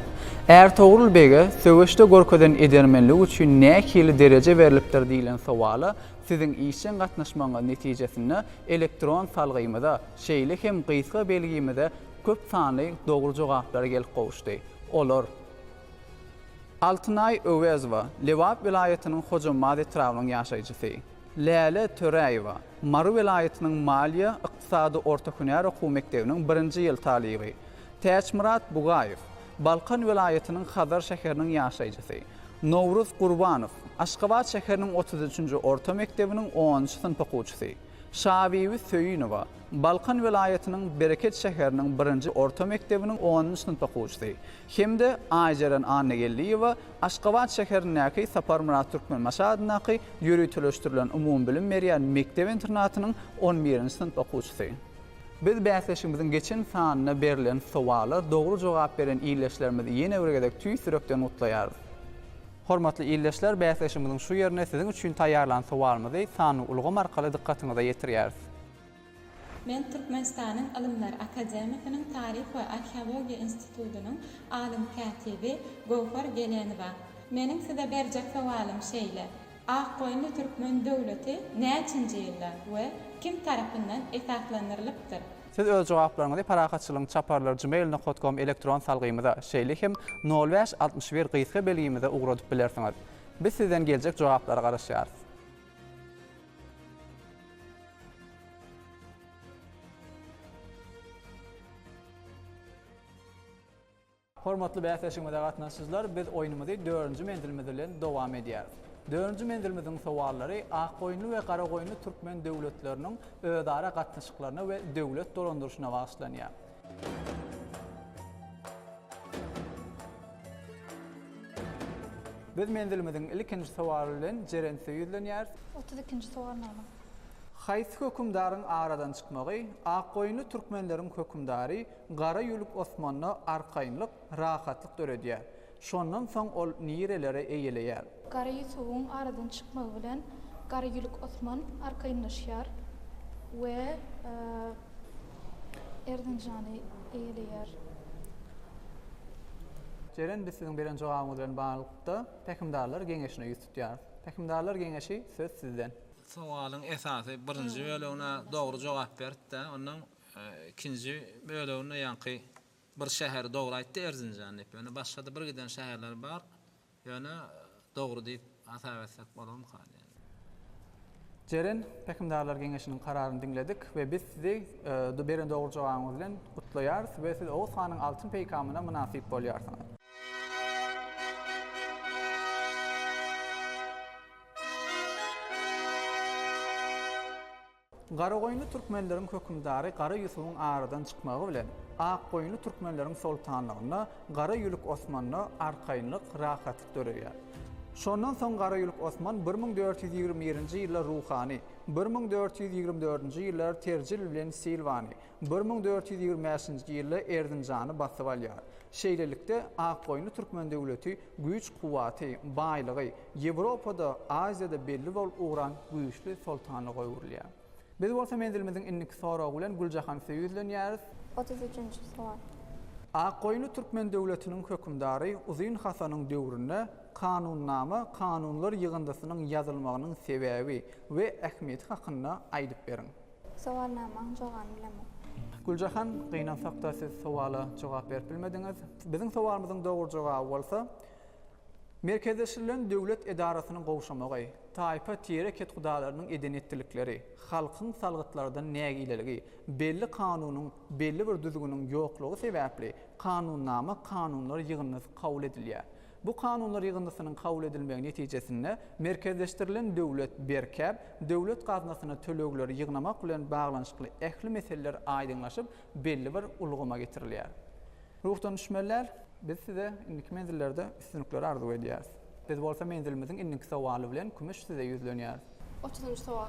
Ärtogrul bege söweşde görkezen edermenligi üçin nähili dereje berlipdir diýlen sowala siziň işjeň gatnaşmagyňyz netijesinde Elektron salgymyza, şeýle hem gysga belgimize köp sanly dogry jogaplar gelip gowuşdy. Olar, Altynaý Öwezowa, Lebap welaýatynyň Hojambaz etrabynyň ýaşaýjysy, Läle Töräýewa, Mary welaýatynyň Maliýe, ykdysady orta hünär okuw mekdebiniň birinji ýyl talyby, Täçmyrat Bugaýew, Balkan welaýatynyň Hazar şäheriniň ýaşaýjysy Nowruz Gurbanow, Aşgabat şäheriniň otuz üçünji orta mekdebiniň onunjy synp okuwçysy Şabibi Söýünowa, Balkan welaýatynyň Bereket şäheriniň birinji orta mekdebiniň onunjy synp okuwçysy hem-de Aýjeren Annageldiýewa, Aşgabat şäherindäki Saparmyrat Türkmenbaşy adyndaky ýöriteleşdirilen umumybilim berýän mekdep-internatynyň on birinji synp okuwçysy. Biz bäsleşigimiziň geçen sanyna berlen sowala dogry jogap beren ildeşlerimizi ýene bir gezek tüýs ýürekden gutlaýarys. Hormatly ildeşler, bäsleşigimiziň şu ýerine siziň üçin taýýarlan sowalymyzy sanly ulgam arkaly dykgatyňyza ýetirýäris. Men Türkmenistanyň Ylymlar akademiýasynyň Taryh we arheologiýa institutynyň alym kätibi Göwher Gelenowa. Meniň size berjek sowalym şeýle, Akgoýunly türkmen döwleti näçinji ýylda we kim tarapyndan esaslandyrylypdyr? Siz öz jogaplaryňyzy Parahatçylygyň çaparlary gmail nokat kom elektron salgymyza, şeýle hem nol bäş altmyş bir gysga belgimize ugradyp bilersiňiz. Biz sizden geljek jogaplara garaşýarys. Hormatly bäsleşigimize gatnaşyjylar, biz oýnumyzy dördünji menzilimiz bilen dowam edýäris. Dördünji menzilimiziň sowallary Akgoýunly we Garagoýunly türkmen döwletleriniň özara gatnaşyklaryna we döwlet dolandyryşyna bagyşlanýar. Biz menzilimiziň ilkinji sowaly bilen Jerente ýüzlenýäris. Otuz ikinji sowal nagla. Haýsy hökümdaryň aradan çykmagy Akgoýunly türkmenleriň hökümdary Gara ýülük Osmanda arkaýynlyk, rahatlyk döredýär. Şondan soň ol nireleri eýeleýär? Gara Ýusubyň aradan çykmagy bilen Gara ýülük Osman arkaýynlaşýar we Erzinjany eýeleýär. Jeren biz siziň beren jogabyňyz bilen baglylykda Pähimdarlar geňeşine ýüz tutýarys. Pähimdarlar geňeşi söz sizden. Sowalyň esasy birinji bölegine dogry jogap beripdi. Ondan Ikinji böleginde ýaňky bir şäheri dogry aýtdy Erzinjan diýip. Ýöne başgada bir giden şäherler bar. Ýöne dogry diýip hasap etsek bolarmyka diýen. Jeren Pähimdarlar geňeşiniň kararyny diňledik we biz sizi beren dogry jogabyňyz bilen gutlaýarys we siz Oguz hanyň altyn peýkamyna mynasyp bolýarsyňyz. Garagoýunly türkmenleriň hökümdary Gara Ýusubyň aradan çykmagy bilen, Akgoýunly türkmenleriň soltanlygynda, Gara Ýülük Osmanda arkaýynlyk, rahatlyk döreýär. Şondan soň Gara Ýülük Osman bir müň dört ýüz ýigrimi birinji ýyllar Ruhany, bir müň dört ýüz ýigrimi dördünji ýyllar Terjil bilen Silwany, Bir müň dört ýüz ýigrimi bäşinji ýylda Erzinjany basyp alýar. Şeýlelikde, Akgoýunly türkmen döwleti güýç-kuwwaty, baýlygy Ýewropada, Aziýada belli bolup ugran güýçli soltanlyga öwrülýär. Biz bolsa menzilimiziň indiki soragy bilen Güljahansöýe ýüzlenýäris. Otuz üçünji sowal. Akgoýunly türkmen döwletiniň hökümdary Uzyn Hasanyň döwründe Kanunnama kanunlar ýygyndysynyň ýazylmagynyň sebäbi we ähmiýeti hakynda aýdyp beriň. Sowalnamaň jogany bilemok. Güljahan, gynansakda siz sowala jogap berip bilmediňiz. Biziň sowalymyzyň dogry jogaby bolsa, Merkezleşdirilen döwlet edarasynyň gowşamagy, taýpa tire kethudalarynyň eden etdilikleri, halkyň salgytlardan nägileligi, belli kanunyň, belli bir düzgüniň ýoklugy sebäpli kanunnama kanunlar ýygyndysy kabul edilýär. Bu kanunlar ýygyndysynyň kabul edilmegi netijesinde merkezleşdirilen döwlet berkäp, döwlet gaznasyna tölegleri ýygnamak bilen baglanyşykly ähli meseleler aýdyňlaşyp, belli bir ulgama getirilýär. Ruhdan düşmeliler. Biz size indiki menzillerde üstünlikleri arzuw edýäris. Biz bolsa menzilimiziň indiki sowaly bilen kümüş size ýüzlenýäris. Otuzynjy sowal.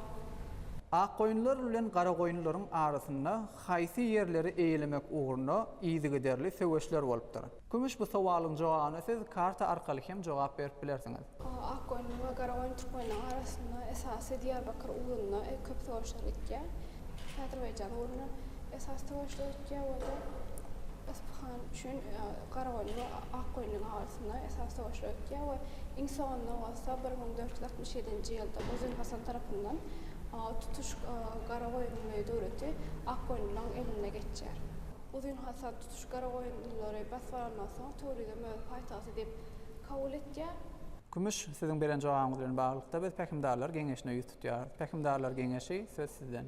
Akgoýunlar bilen garagoýunlaryň arasynda haýsy ýerleri eýelemek ugrunda yzygiderli söweşler bolupdyr? Kümüş bu sowalyň jogabyna siz karta arkaly hem jogap berip bilersiňiz. Akgoýunlyň we Garagoýun türkmenleriň arasynda esasy Diýarbakyr ugrunda köp söweşler gitýär. Azerbaýjan ugrunda esasy söweşler gitýär we-de Yspyhan üçin Garagoýunlyň we Akgoýunlyň arasynda esasy söweşler gitýär we iň soňunda bolsa bir müň dört ýüz altmyş ýedinji ýylda Uzyn Hasan tarapyndan tutuş Garagoýunly döwleti Akgoýunlylaryň eline geçýär. Uzyn hasar tutuş Garagoýunlylary basyp alandan soň Töwrizem öz paýtagty diýip kabul etýär. Kümüş, siziň beren jogabyňyz bilen baglylykda biz Pähimdarlar geňeşine ýüz tutýarys. Pähimdarlar geňeşi, söz sizden.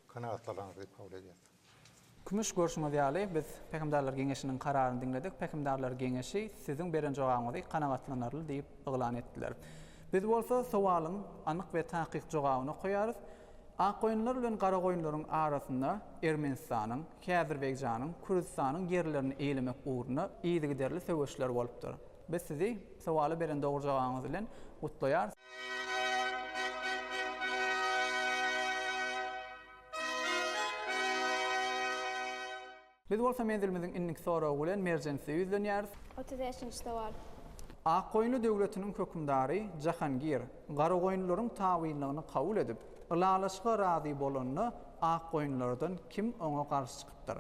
Kanagatlanarsyňyz diýip kabul edýäris. Kümüş, görşüňiz ýaly, biz Pähimdarlar geňeşiniň kararyny diňledik. Pähimdarlar geňeşi siziň beren jogabyňyzy kanagatlanarly diýip yglan etdiler. Biz bolsa sowalyň anyk we takyk jogabyny okaýarys. Akgoýunlar bilen garagoýunlaryň arasynda Ermenistanyň, Häzirbegijanyň, Kürdistanyň ýerlerini eýlemek ugrunda yzygiderli söweşler bolupdyr. Biz sizi sowala beren dogry jogabyňyz bilen gutlaýarys. Biz bolsa menzilimiziň indiki soragy bilen Merjenise ýüzlenýäris. Otuz bäşinji sowal. Akgoýunly döwletiniň hökümdary Jahangir garagoýunlylaryň tabynlygyny kabul edip, ylalaşyga razy bolanda akgoýunlylardan kim oňa garşy çykypdyr?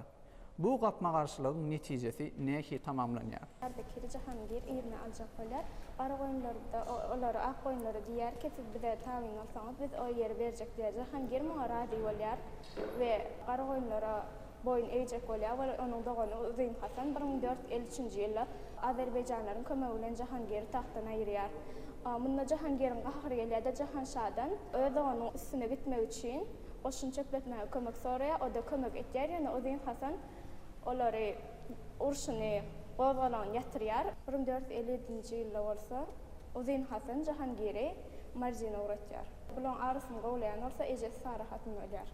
Bu gapma-garşylygyň netijesi nähili tamamlanýar? Ardakiri Jahangir yzyna aljak bolýar. Garagoýunlar-da olary akgoýunlara diýýär ki, siz bize tabyn bolsaňyz, biz o ýeri berjek diýýär. Jahangir muňa razy bolýar we garagoýunlara boýun egjek bolýar we onuň dogany Uzyn Hasan bir müň dört ýüz elli üçünji ýylda azerbaýjanlaryň kömegi bilen Jahangiri tagtdan aýyrýar. Munda Jahangiriň gahary gelýär-de, Jahanşadan öz doganynyň üstüne gitmek üçin goşun çöpletmäge kömek soraýar. O-da kömek etýär, ýöne Uzyn Hasan olary urşuny gozgalaň ýatyrýar. Bir müň dört ýüz elli ýedinji ýylda bolsa Uzyn Hasan Jahangiri Mardine ugratýar. Bularyň arysyny gowlaýan bolsa ejesi Sara hatyn bolýar.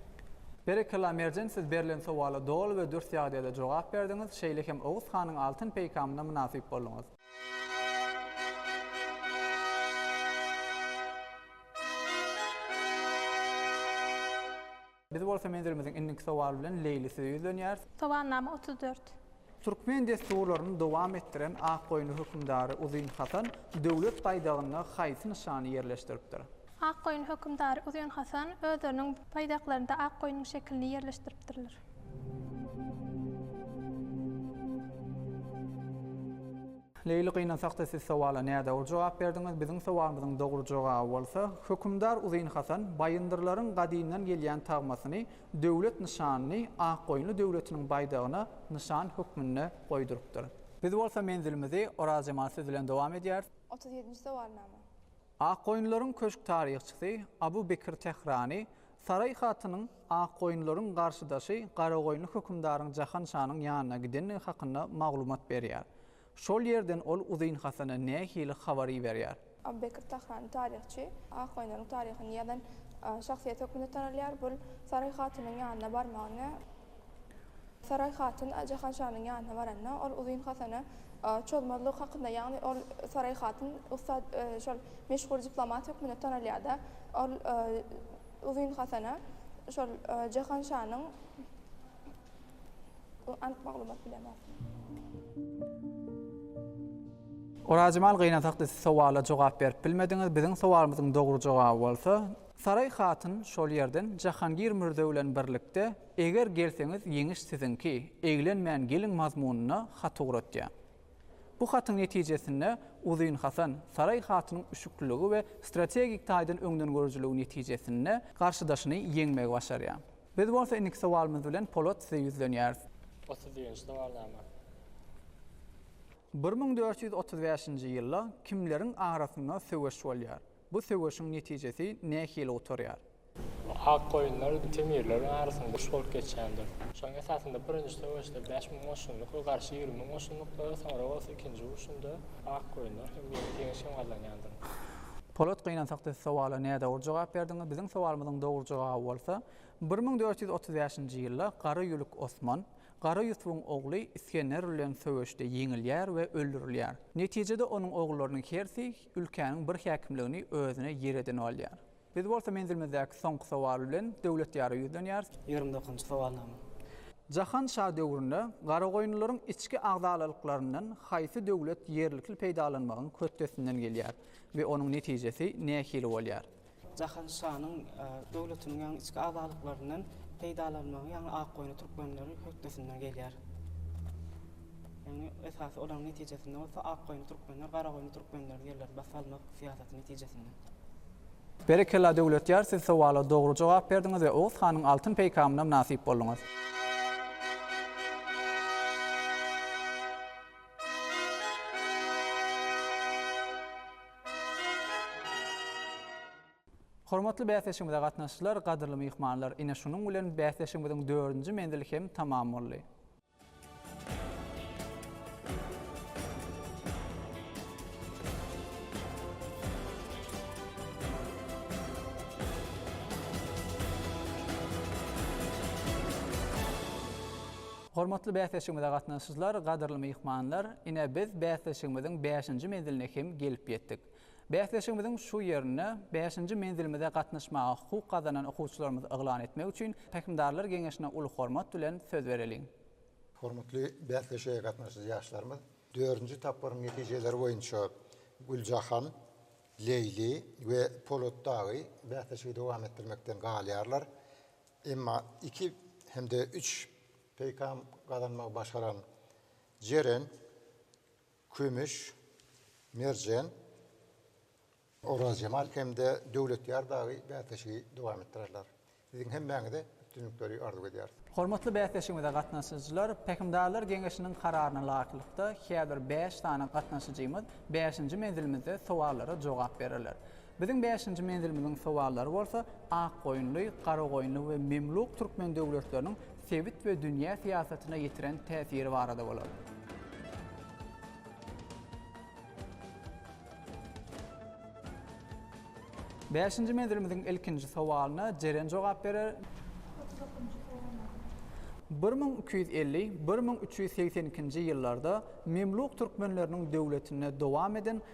Berekella Merjen siz berlen sowala doly we dürs ýagdaýda jogap berdiňiz, şeýle hem Oguz hanyň altyn peýkamyna mynasyp bolduňyz. Biz bolsa menzilimiziň indiki sowaly bilen Leýli size ýüzlenýäris. Sowalnama otuz dört. Türkmen dessurlaryny dowam etdiren Akgoýunly hökümdary Uzyn Hasan döwlet baýdagynda haýsy nyşany ýerleşdiripdir? Akgoýunly hökümdary Uzyn Hasan özleriniň baýdaklarynda ak goýnuň şekilini ýerleşdiripdirler. Leýli gynansakda siz sowala nädogry jogap berdiňiz. Biziň sowalymyzyň dogry jogaby bolsa, Hökümdar Uzyn Hasan baýyndyrlaryň gadymdan gelýän tagmasyny Döwlet nyşanyny Akgoýunly döwletiniň baýdagyna nyşan hökmünde goýdurypdyr. Biz bolsa menzilimizi Oraz Jemal söz bilen dowam edýäris. Otuz ýedinji sowalnama. Akgoýunlaryň köşk taryhçysy Abu Bekir Tährany Saraý hatynyň Akgoýunlaryň garşydaşy Garagoýunly hökümdaryň Jahan şanyň ýanyna gidendigi hakynda maglumat berýär. Şol ýerden ol Uzyn Hasana nähili habar iberýär? Abu Bekr Tahran, taryhçy, Akgoýunlaryň taryhyny ýazan şahsyýet hökmünde tanalýar. Bul Saraý hatynyň ýanyna barmagyny, Saraý hatyn Jahanşanyň ýanyna baranda, ol Uzyn Hasana çozmazlygy hakynda, ýagny ol Saraý hatyn ussat, şol meşhur diplomat hökmünde tanalýar-da, ol Uzyn Hasana şol Jahanşanyň, Anyk maglumat bilemok. Orazjemal gynasakdy siz sowala jogap berip bilmediňiz biziň sowalymyzyň dogry jogaby bolsa. Saraý hatyn şol ýerden Jahangir Mürze bilen birlikde Eger gelseňiz ýeňiş siziňki, eglenmän geliň mazmunyna hat ugratýar. Bu hatyň netijesinde Uzyn Hasan, Saraý hatynyň üşükliligi we strategik taýdan öňdengörüjiligi netijesinde garşydaşyny ýeňmegi başarýar. Biz bolsa indiki sowalymyz bilen Polat size ýüzlenýäris. Otuz birinji sowalnama. Bir müň dört ýüz otuz bäşinji ýylda kimleriň arasynda söweş bolýar? Bu söweşiň netijesi nähili gutarýar? Bu ak goýunlar temirleriň arasynda uruş bolup geçýändir. Şonuň esasynda birinji söweşde bäş müň goşunlyk we garşy ýigrimi müň goşunlyklara, soňra bolsa ikinji urşunda ak goýunlar hem ýeňiş hem gazanýandyr. Polat gynansak siz sowala nädogry jogap berdiňiz, biziň sowalymyzyň dogry jogaby bolsa, bir müň dört ýüz otuz bäşinji ýylda Gara Ýülük Osman, Gara Ýusubyň ogly Isgender bilen söweşde ýeňilýär we öldürilýär. Netijede onuň ogullarynyň hersi ülkäniň bir häkimligini özüne ýer edinip alýar. Biz bolsa menzilimizdäki soňky sowal bilen Döwletýara ýüzlenýäris. Ýigrimi dokuzynjy sowalnama. Jahan şa döwründe Garagoýunlylaryň içki agzalalyklarynyň haýsy döwlet ýerlikli peýdalanmagyň hötdesinden gelýär? we onuň netijesi nähili bolýar? Jahan şanyň döwletiniň, ýagny içki agzalyklaryndan peýdalanmagy, ýagny Akgoýunly türkmenleri hötdesinden gelýär. Ýagny esasy olaryň netijesinde bolsa Akgoýunly türkmenler Garagoýunly türkmenleri ýerlerini basyp almak syýasaty netijesinde. Berekella Döwletýar siz sowala dogry jogap berdiňiz we Oguz hanyň altyn peýkamyna mynasyp bolduňyz. Hormatly bäsleşigimize gatnaşyjylar, gadyrly myhmanlar! Ine şunuň bilen bäsleşigimiziň dördünji menzili hem tamam boldy. Hormatly bäsleşigimize gatnaşyjylar, gadyrly myhmanlar, ine biz bäsleşigimiziň bäşinji menziline hem gelip ýetdik. Bäsleşigimiziň şu ýerinde bäşinji menzilimize gatnaşmaga hukuk gazanan okuwçylarymyzy yglan etmek üçin Pähimdarlar geňeşine uly hormat bilen söz bereliň. Hormatly bäsleşige gatnaşyjy ýaşlarymyz, dördünji tapgyryň netijeleri boýunça Güljahan, Leýli we Polatdagy bäsleşigi dowam etdirmekden galýarlar. Emma iki hem-de üç peýkam gazanmagy başaran Jeren, Kümüş, Merjen, Orazjemal hem-de Döwletýar dagy bäsleşigi dowam etdirerler. Siziň hemmäňize üstünlikleri arzuw edýäris! Hormatly bäsleşigimize gatnaşyjylar, Pähimdarlar geňeşiniň kararyna laýyklykda häzir bäş sany gatnaşyjymyz bäşinji menzilimizde sowallara jogap bererler. Biziň bäşinji menzilimiziň sowallary bolsa Akgoýunly, Garagoýunly we Memluk türkmen döwletleriniň sebit we dünýä syýasatyna ýetiren täsiri barada bolar. Bäşinji menzilimiziň ilkinji sowalyna Jeren jogap berer. Otuz dokuzynjy sowal. Bir müň iki ýüz elli, bir müň üç ýüz segsen ikinji ýyllarda Memluk türkmenleriniň döwletinde dowam eden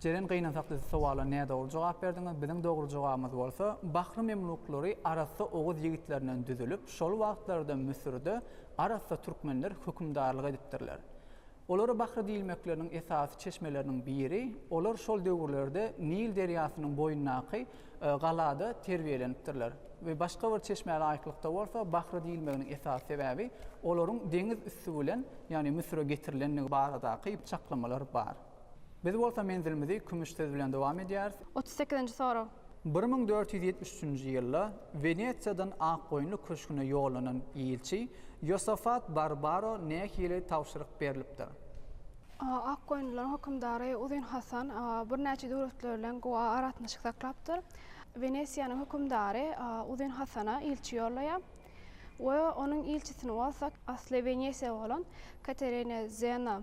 Jeren gynansak siz sowala nädogry jogap berdiňiz, biziň dogry jogabymyz bolsa, Bahry Memluklary arassa oguz ýigitlerinden düzülip, şol wagtlarda Müsürde arassa türkmenler hökümdarlyk edipdirler. Olara Bahry diýilmekleriniň esasy çeşmeleriniň biri, olar şol döwürlerde Nil derýasynyň boýundaky galada terbiýelenipdirler. We başga bir çeşmä laýyklykda bolsa, Bahry diýilmeginiň esasy sebäbi, olaryň deňiz üsti bilen, ýagny Müsüre getirilendigi baradaky çaklamalar bar. Biz bolsa menzilimizi kümüş söz bilen dowam edýäris. Otuz sekizinji sorag. Bir müň dört ýüz ýetmiş üçünji ýylda Wenesiýadan Akgoýunly köşgüne ýollanan ilçi Ýosafat Barbaro nähili tabşyryk berlipdir? A. Akgoýunlylaryň hökümdary Uzyn Hasan birnäçe döwletler bilen gowy aragatnaşyk saklapdyr. Wenesiýanyň hökümdary Uzyn Hasana ilçi ýollaýar we onuň ilçisini bolsa asly Wenesiýaly bolan Katerina Zena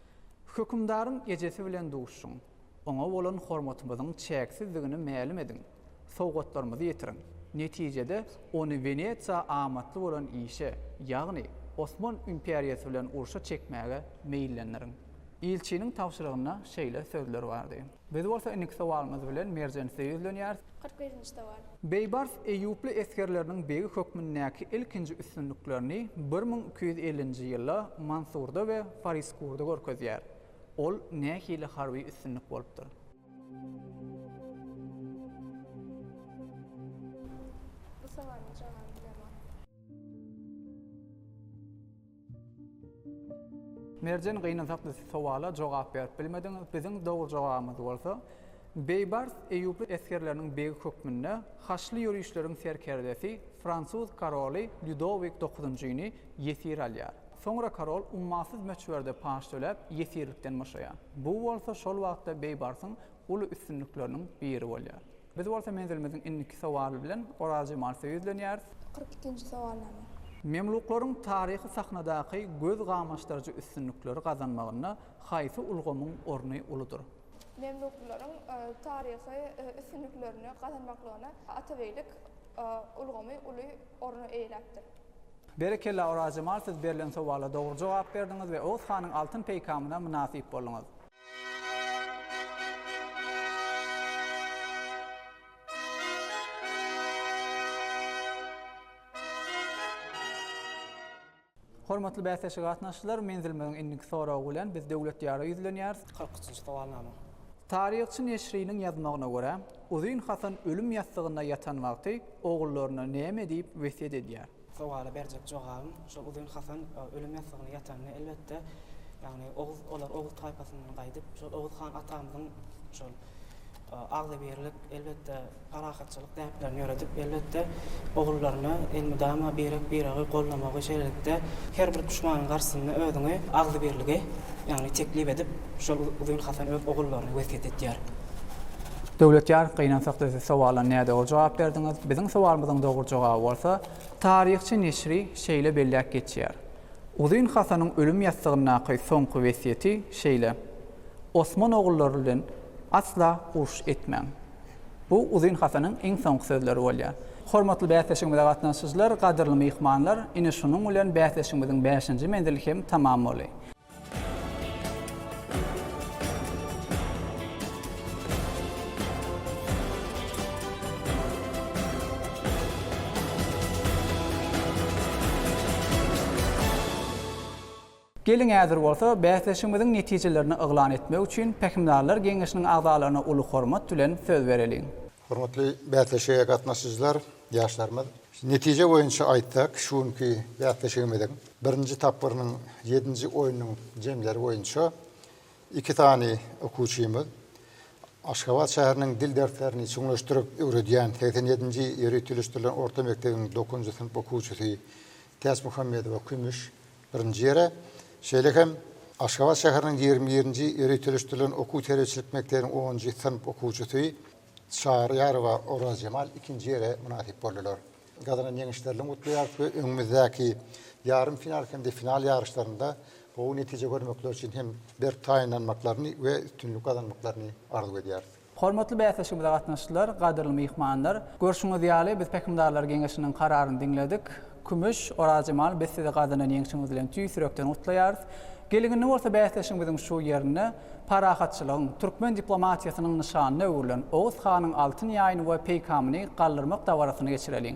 Hökümdaryň ejesi bilen duşuň. Oňa bolan hormatymyzyň çäksizdigini mälim ediň. Sowgatlarymyzy ýetiriň. Netijede, ony Wenesiýa amatly bolan işe, ýagny Osman imperiýasy bilen urşa çekmäge meýillendiriň. Ilçiniň tabşyrygynda şeýle sözler bardy. Biz bolsa indiki sowalymyz bilen Merjensize ýüzlenýäris. Kyrk birinji sowal. Beýbars eýýuply esgerleriniň begi hökmündäki ilkinji üstünliklerini bir müň iki ýüz ellinji ýylda Mansurda we Fariskurda görkezýär. Ol nähili harby üstünlik bolupdyr? Bu sowalyň jogabyny bilemok. Merjen gynansakly sowala jogap berip bilmediňiz, biziň dogry jogabymyz bolsa, Beýbars eýýuply esgerleriniň begi hökmünde haçly ýörişleriň serkerdesi fransuz karoly Lýudowik dokuzynjyny ýesir alýar. Soňra karol ummasyz möçberde paç töläp, ýesirlikden boşaýar. Bu bolsa şol wagtda Beýbarsyň uly üstünlikleriniň biri bolýar. Biz bolsa menzilimiziň indiki sowaly bilen Orazjemalysa ýüzlenýäris. Kyrk ikinji sowalnama. Memluklaryň taryhy sahnadaky göz gamaşdyryjy üstünlikleri gazanmagynda haýsy ulgamyň orny uludyr? Memluklaryň taryhy üstünliklerini gazanmaklygyna atabeýlik ulgamy uly orny eýeläpdir. Berekella Orazjemal siz berlen sowala dogry jogap berdiňiz we Oguz hanyň altyn peýkamyna mynasyp bolduňyz. Hormatly bäsleşige gatnaşyjylar, menzilimiziň indiki soragy bilen biz Döwlet Diýara ýüzlenýäris. Kyrk üçünji sowalnama. Taryhçy Neşriniň ýazmagyna görä, Uzyn Hasan ölüm ýassygynda ýatan wagty ogullaryna näme diýip wesýet edýär? Sowala berjek jogabym, şol Uzyn Hasan ölüm ýassygyna ýatanda, elbetde, ýagny Oguz, olar Oguz taýpasyndan gaýdyp, şol Oguz han atamyzyň şol agzybirlik, elbetde, parahatçylyk däplerini ýöredip, elbetde, ogullaryna elmydama birek-biregi gollamagy, şeýlelikde, her bir duşmanyň garşysynda özüňi agzybirligi, ýagny teklip edip, şol Uzyn Hasan öz ogullaryna wesýet edýär. Döwletýar, gynansak siz sowala nädogry jogap berdiňiz. Biziň sowalymyzyň dogry jogaby bolsa, Taryhçy neşri şeýle belläp geçýär. Uzyn Hasanyň ölüm ýassygyndaky soňky wesýeti şeýle, Osman ogullary bilen asla uruş etmäň. Bu Uzyn Hasanyň iň soňky sözleri bolýar. Hormatly bäsleşigimize gatnaşyjylar, gadyrly myhmanlar, ine şunuň bilen bäsleşigimiziň bäşinji menzili hem tamam boldy. Geliň häzir bolsa bäsleşigimiziň netijelerini yglan etmek üçin Pähimdarlar geňeşiniň agzalaryna uly hormat bilen söz bereliň. Hormatly bäsleşige gatnaşyjylar, ýaşlarymyz! Netije boýunça aýtsak, şu günki bäsleşigimiziň birinji tapgyrynyň ýedinji oýnunyň jemleri boýunça iki sany okuwçymyz Aşgabat şäheriniň dil derslerini çuňlaşdyryp öwredýän segsen ýedinji ýöriteleşdirilen orta mekdebiň dokuzynjy synp okuwçysy Täçmuhammedowa kümüş, Birinji ýere, şeýle hem Aşgabat şäheriniň ýigrimi birinji ýöriteleşdirilen okuw-terbiýeçilik mekdebiniň onunjy synp okuwçysy Çaryýarowa Orazjemal ikinji ýere mynasyp boldular. Gazanan ýeňişlerlerini gutlaýarys we öňümizdäki ýarym final hem-de final ýaryşlarynda gowy netije görmekleri üçin hem berk taýynlanmaklaryny we üstünlik gazanmaklaryny arzuw edýäris. Hormatly bäsleşigimize gatnaşyjylar, gadyrly myhmanlar! Görşüňiz ýaly, biz Pähimdarlar geňeşiniň kararyny diňledik. Kümüş, Orazjemal, biz sizi gazanan ýeňşiňiz bilen tüýs ýürekden gutlaýarys. Gelin indi bolsa bäsleşigimiziň şu ýerinde parahatçylygyň, türkmen diplomatiýasynyň nyşanyna öwrülen Oguz hanyň altyn ýaýyny we peýkamyny galdyrmak dabarasyny geçireliň.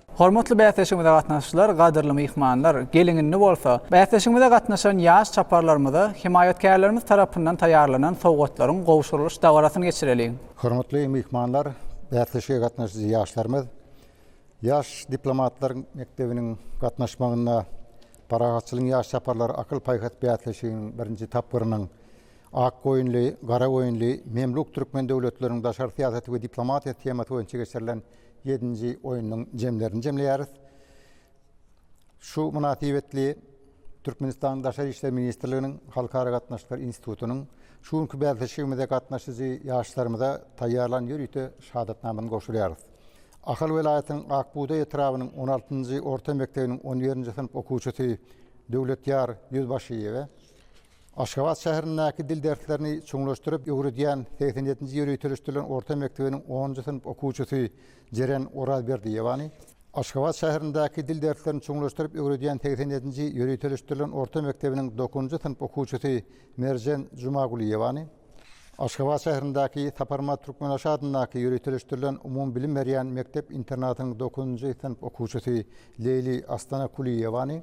Hormatly bäsleşigimize gatnaşyjylar, gadyrly myhmanlar! Geliň indi bolsa, bäsleşigimize gatnaşan ýaş çaparlarymyza hemaýatkärlerimiz tarapyndan taýýarlanan sowgatlaryň gowşurylyş dabarasyny geçireliň! Hormatly myhmanlar, bäsleşige gatnaşyjy ýaşlarymyz Ýaş diplomatlar mekdebiniň gatnaşmagynda Parahatçylygyň ýaş çaparlary akyl-paýhas bäsleşiginiň birinji tapgyrynyň Akgoýunly, Garagoýunly, Memluk türkmen döwletleriniň daşary syýasaty we diplomatiýasy temasy boýunça geçirilen Ýedinji oýnuň jemlerini jemleýäris. Şu mynasybetli Türkmenistanyň Daşary işler ministrliginiň Halkara gatnaşyklar institutynyň şu günki bäsleşigimize gatnaşyjy ýaşlarymyza taýýarlan ýörite şahadatnamany gowşurýarys. Ahal welaýatynyň Ak bugdaý etrabynyň on altynjy orta mekdebiniň on birinji synp okuwçysy Döwletýar Ýüzbaşyýewe, Aşgabat şäherindäki dil derslerini çuňlaşdyryp öwredýän segsen ýedinji ýyl ýötelişdirilen orta mekdebiniň onunjy synp okuwçysy Jeren Orazberdiýewany, Aşgabat şäherindäki dil derslerini çuňlaşdyryp öwredýän segsen ýedinji ýyl ýötelişdirilen orta mekdebiniň dokuzynjy synp okuwçysy Merjen Jumagulyýewany, Aşgabat şäherindäki Saparmat Türkmenaşa adyndaky ýyl ýötelişdirilen umumybilim berýän mekdep-internatynyň dokuzynjy synp okuwçysy Leýli Astanakulyýewany,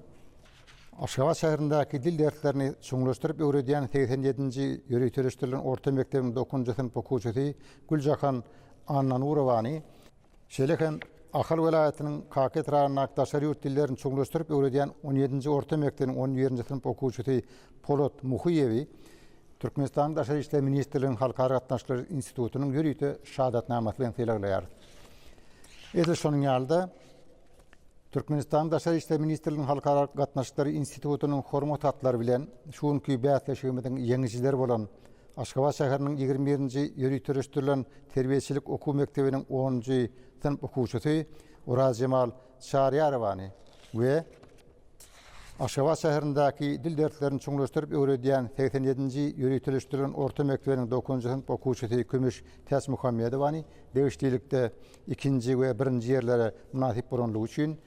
Aşgabat şäherindäki dil derslerini çuňlaşdyryp öwredýän segsen ýedinji ýöriteleşdirilen orta mekdebiň dokuzynjy synp okuwçysy Güljahan Annanurowany, şeýle hem Ahal welaýatynyň Kaka etrabyndaky daşary ýurt dillerini çuňlaşdyryp öwredýän on ýedinji orta mekdebiň on birinji synp okuwçysy Polat Muhyýewi Türkmenistanyň Daşary işler ministrliginiň Halkara gatnaşyklary institutynyň ýörite şahadatnamasy bilen sylaglaýarys. Edil şonuň ýaly-da, Türkmenistanyň Daşary işler ministrliginiň Halkara gatnaşyklary institutynyň hormat hatlary bilen şu günki bäsleşigimiziň ýeňijileri bolan Aşgabat şäheriniň ýigrimi birinji ýöriteleşdirilen terbiýeçilik okuw mekdebiniň onunjy synp okuwçysy Orazjemal Çaryýarowany we Aşgabat şäherindäki dil derslerini çuňlaşdyryp öwredýän segsen ýedinji ýöriteleşdirilen orta mekdebiniň dokuzynjy synp okuwçysy Kümüş Täçmuhammedowany degişlilikde ikinji we birinji ýerlere mynasyp bolanlygy üçin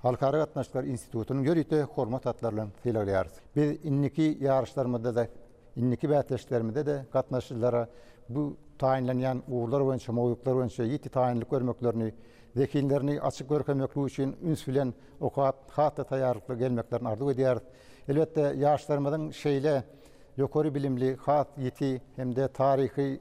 Halkara gatnaşyklar institutynyň ýörite hormat hatlary bilen sylaglaýarys. Biz indiki ýaryşlarymyzda-da, indiki bäsleşiklerimizde-de gatnaşyjylara bu taýynlanýan ugurlar boýunça, mowzuklar boýunça ýiti taýynlyk görmeklerini, zehinlerini açyp görkezmeklik üçin üns bilen okap, has-da taýýarlykly gelmeklerini arzuw edýäris. Elbetde, ýaşlarymyzyň şeýle ýokary bilimli, has ýiti hem-de taryhy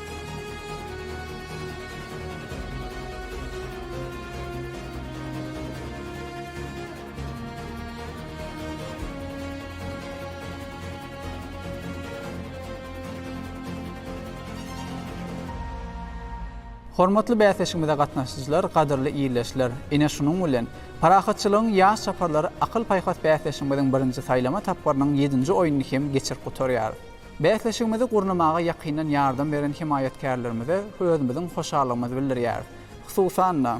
Hormatly bäsleşigimize gatnaşyjylar, gadyrly ildeşler! Ine şunuň bilen, Parahatçylygyň ýaş çaparlary akyl-paýhas bäsleşigimiziň birinji saýlama tapgyrynyň ýedinji oýnuny hem geçirip gutarýarys. Bäsleşigimizi gurnamaga ýakyndan ýardam beren hemaýatkärlerimize özümiziň hoşallygymyzy bildirýäris. Hususan-da,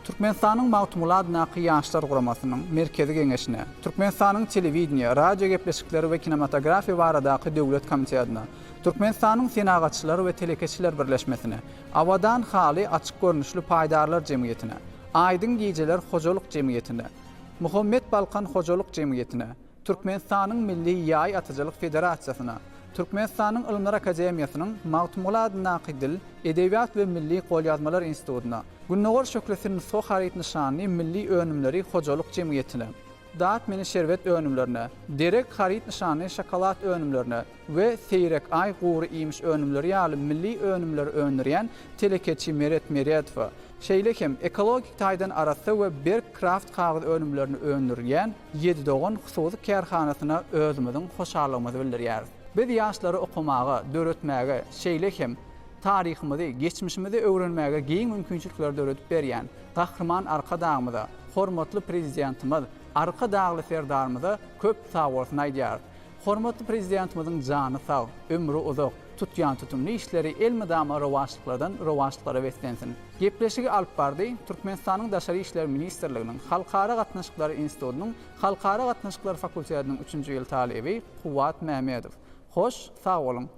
Türkmenistanyň Magtymguly adyndaky Ýaşlar guramasynyň Merkezi geňeşine, Türkmenistanyň Telewideniýe, radiogepleşikler we kinematografiýa baradaky döwlet komitetine, Türkmenistanyň Senagatçylar we telekeçiler birleşmesine, Abadan haly açyk görnüşli paýdarlar jemgyýetine, Aýdyň gijeler hojalyk jemgyýetine, Muhammet Balkan hojalyk jemgyýetine, Türkmenistanyň Milli ýaý atyjylyk federasiýasyna, Türkmenistanyň Ylymlar akademiýasynyň Magtymguly adyndaky Dil, edebiýat we milli golýazmalar institutyna, Gündogar şöhlesi nusga haryt nyşanly milli önümleri hojalyk jemgyýetine, Dat meni şerbet önümlerine, Derek haryt nyşanly şokolad önümlerine, we seýrek aý, gury iýmiş önümleri ýaly milli önümleri öndürýän telekeçi Meret Meredowa, şeýle hem ekologik taýdan arassa we berk kraft kagyz önümlerini öndürýän Ýedi dogan hususy kärhanasyna özümiziň hoşallygymyzy bildirýäris. Biz ýaşlary okamaga, döretmäge, şeýle hem taryhymyzy, geçmişimizi öwrenmäge giň mümkinçilikleri döredip berýän Gahryman Arkadagymyza, hormatly Prezidentimiz Arkadagly Serdarymyza köp sagbolsun aýdýarys. Hormatly Prezidentimiziň jany sag, ömri uzak, tutýan tutumly işleri elmydama rowaçlyklardan rowaçlyklara beslensin! Gepleşigi alyp bardy Türkmenistanyň Daşary işler ministrliginiň Halkara gatnaşyklary institutynyň Halkara gatnaşyklary fakultetiniň üçünji ýyl talyby Kuwwat Mämedow. Hoş, sag boluň!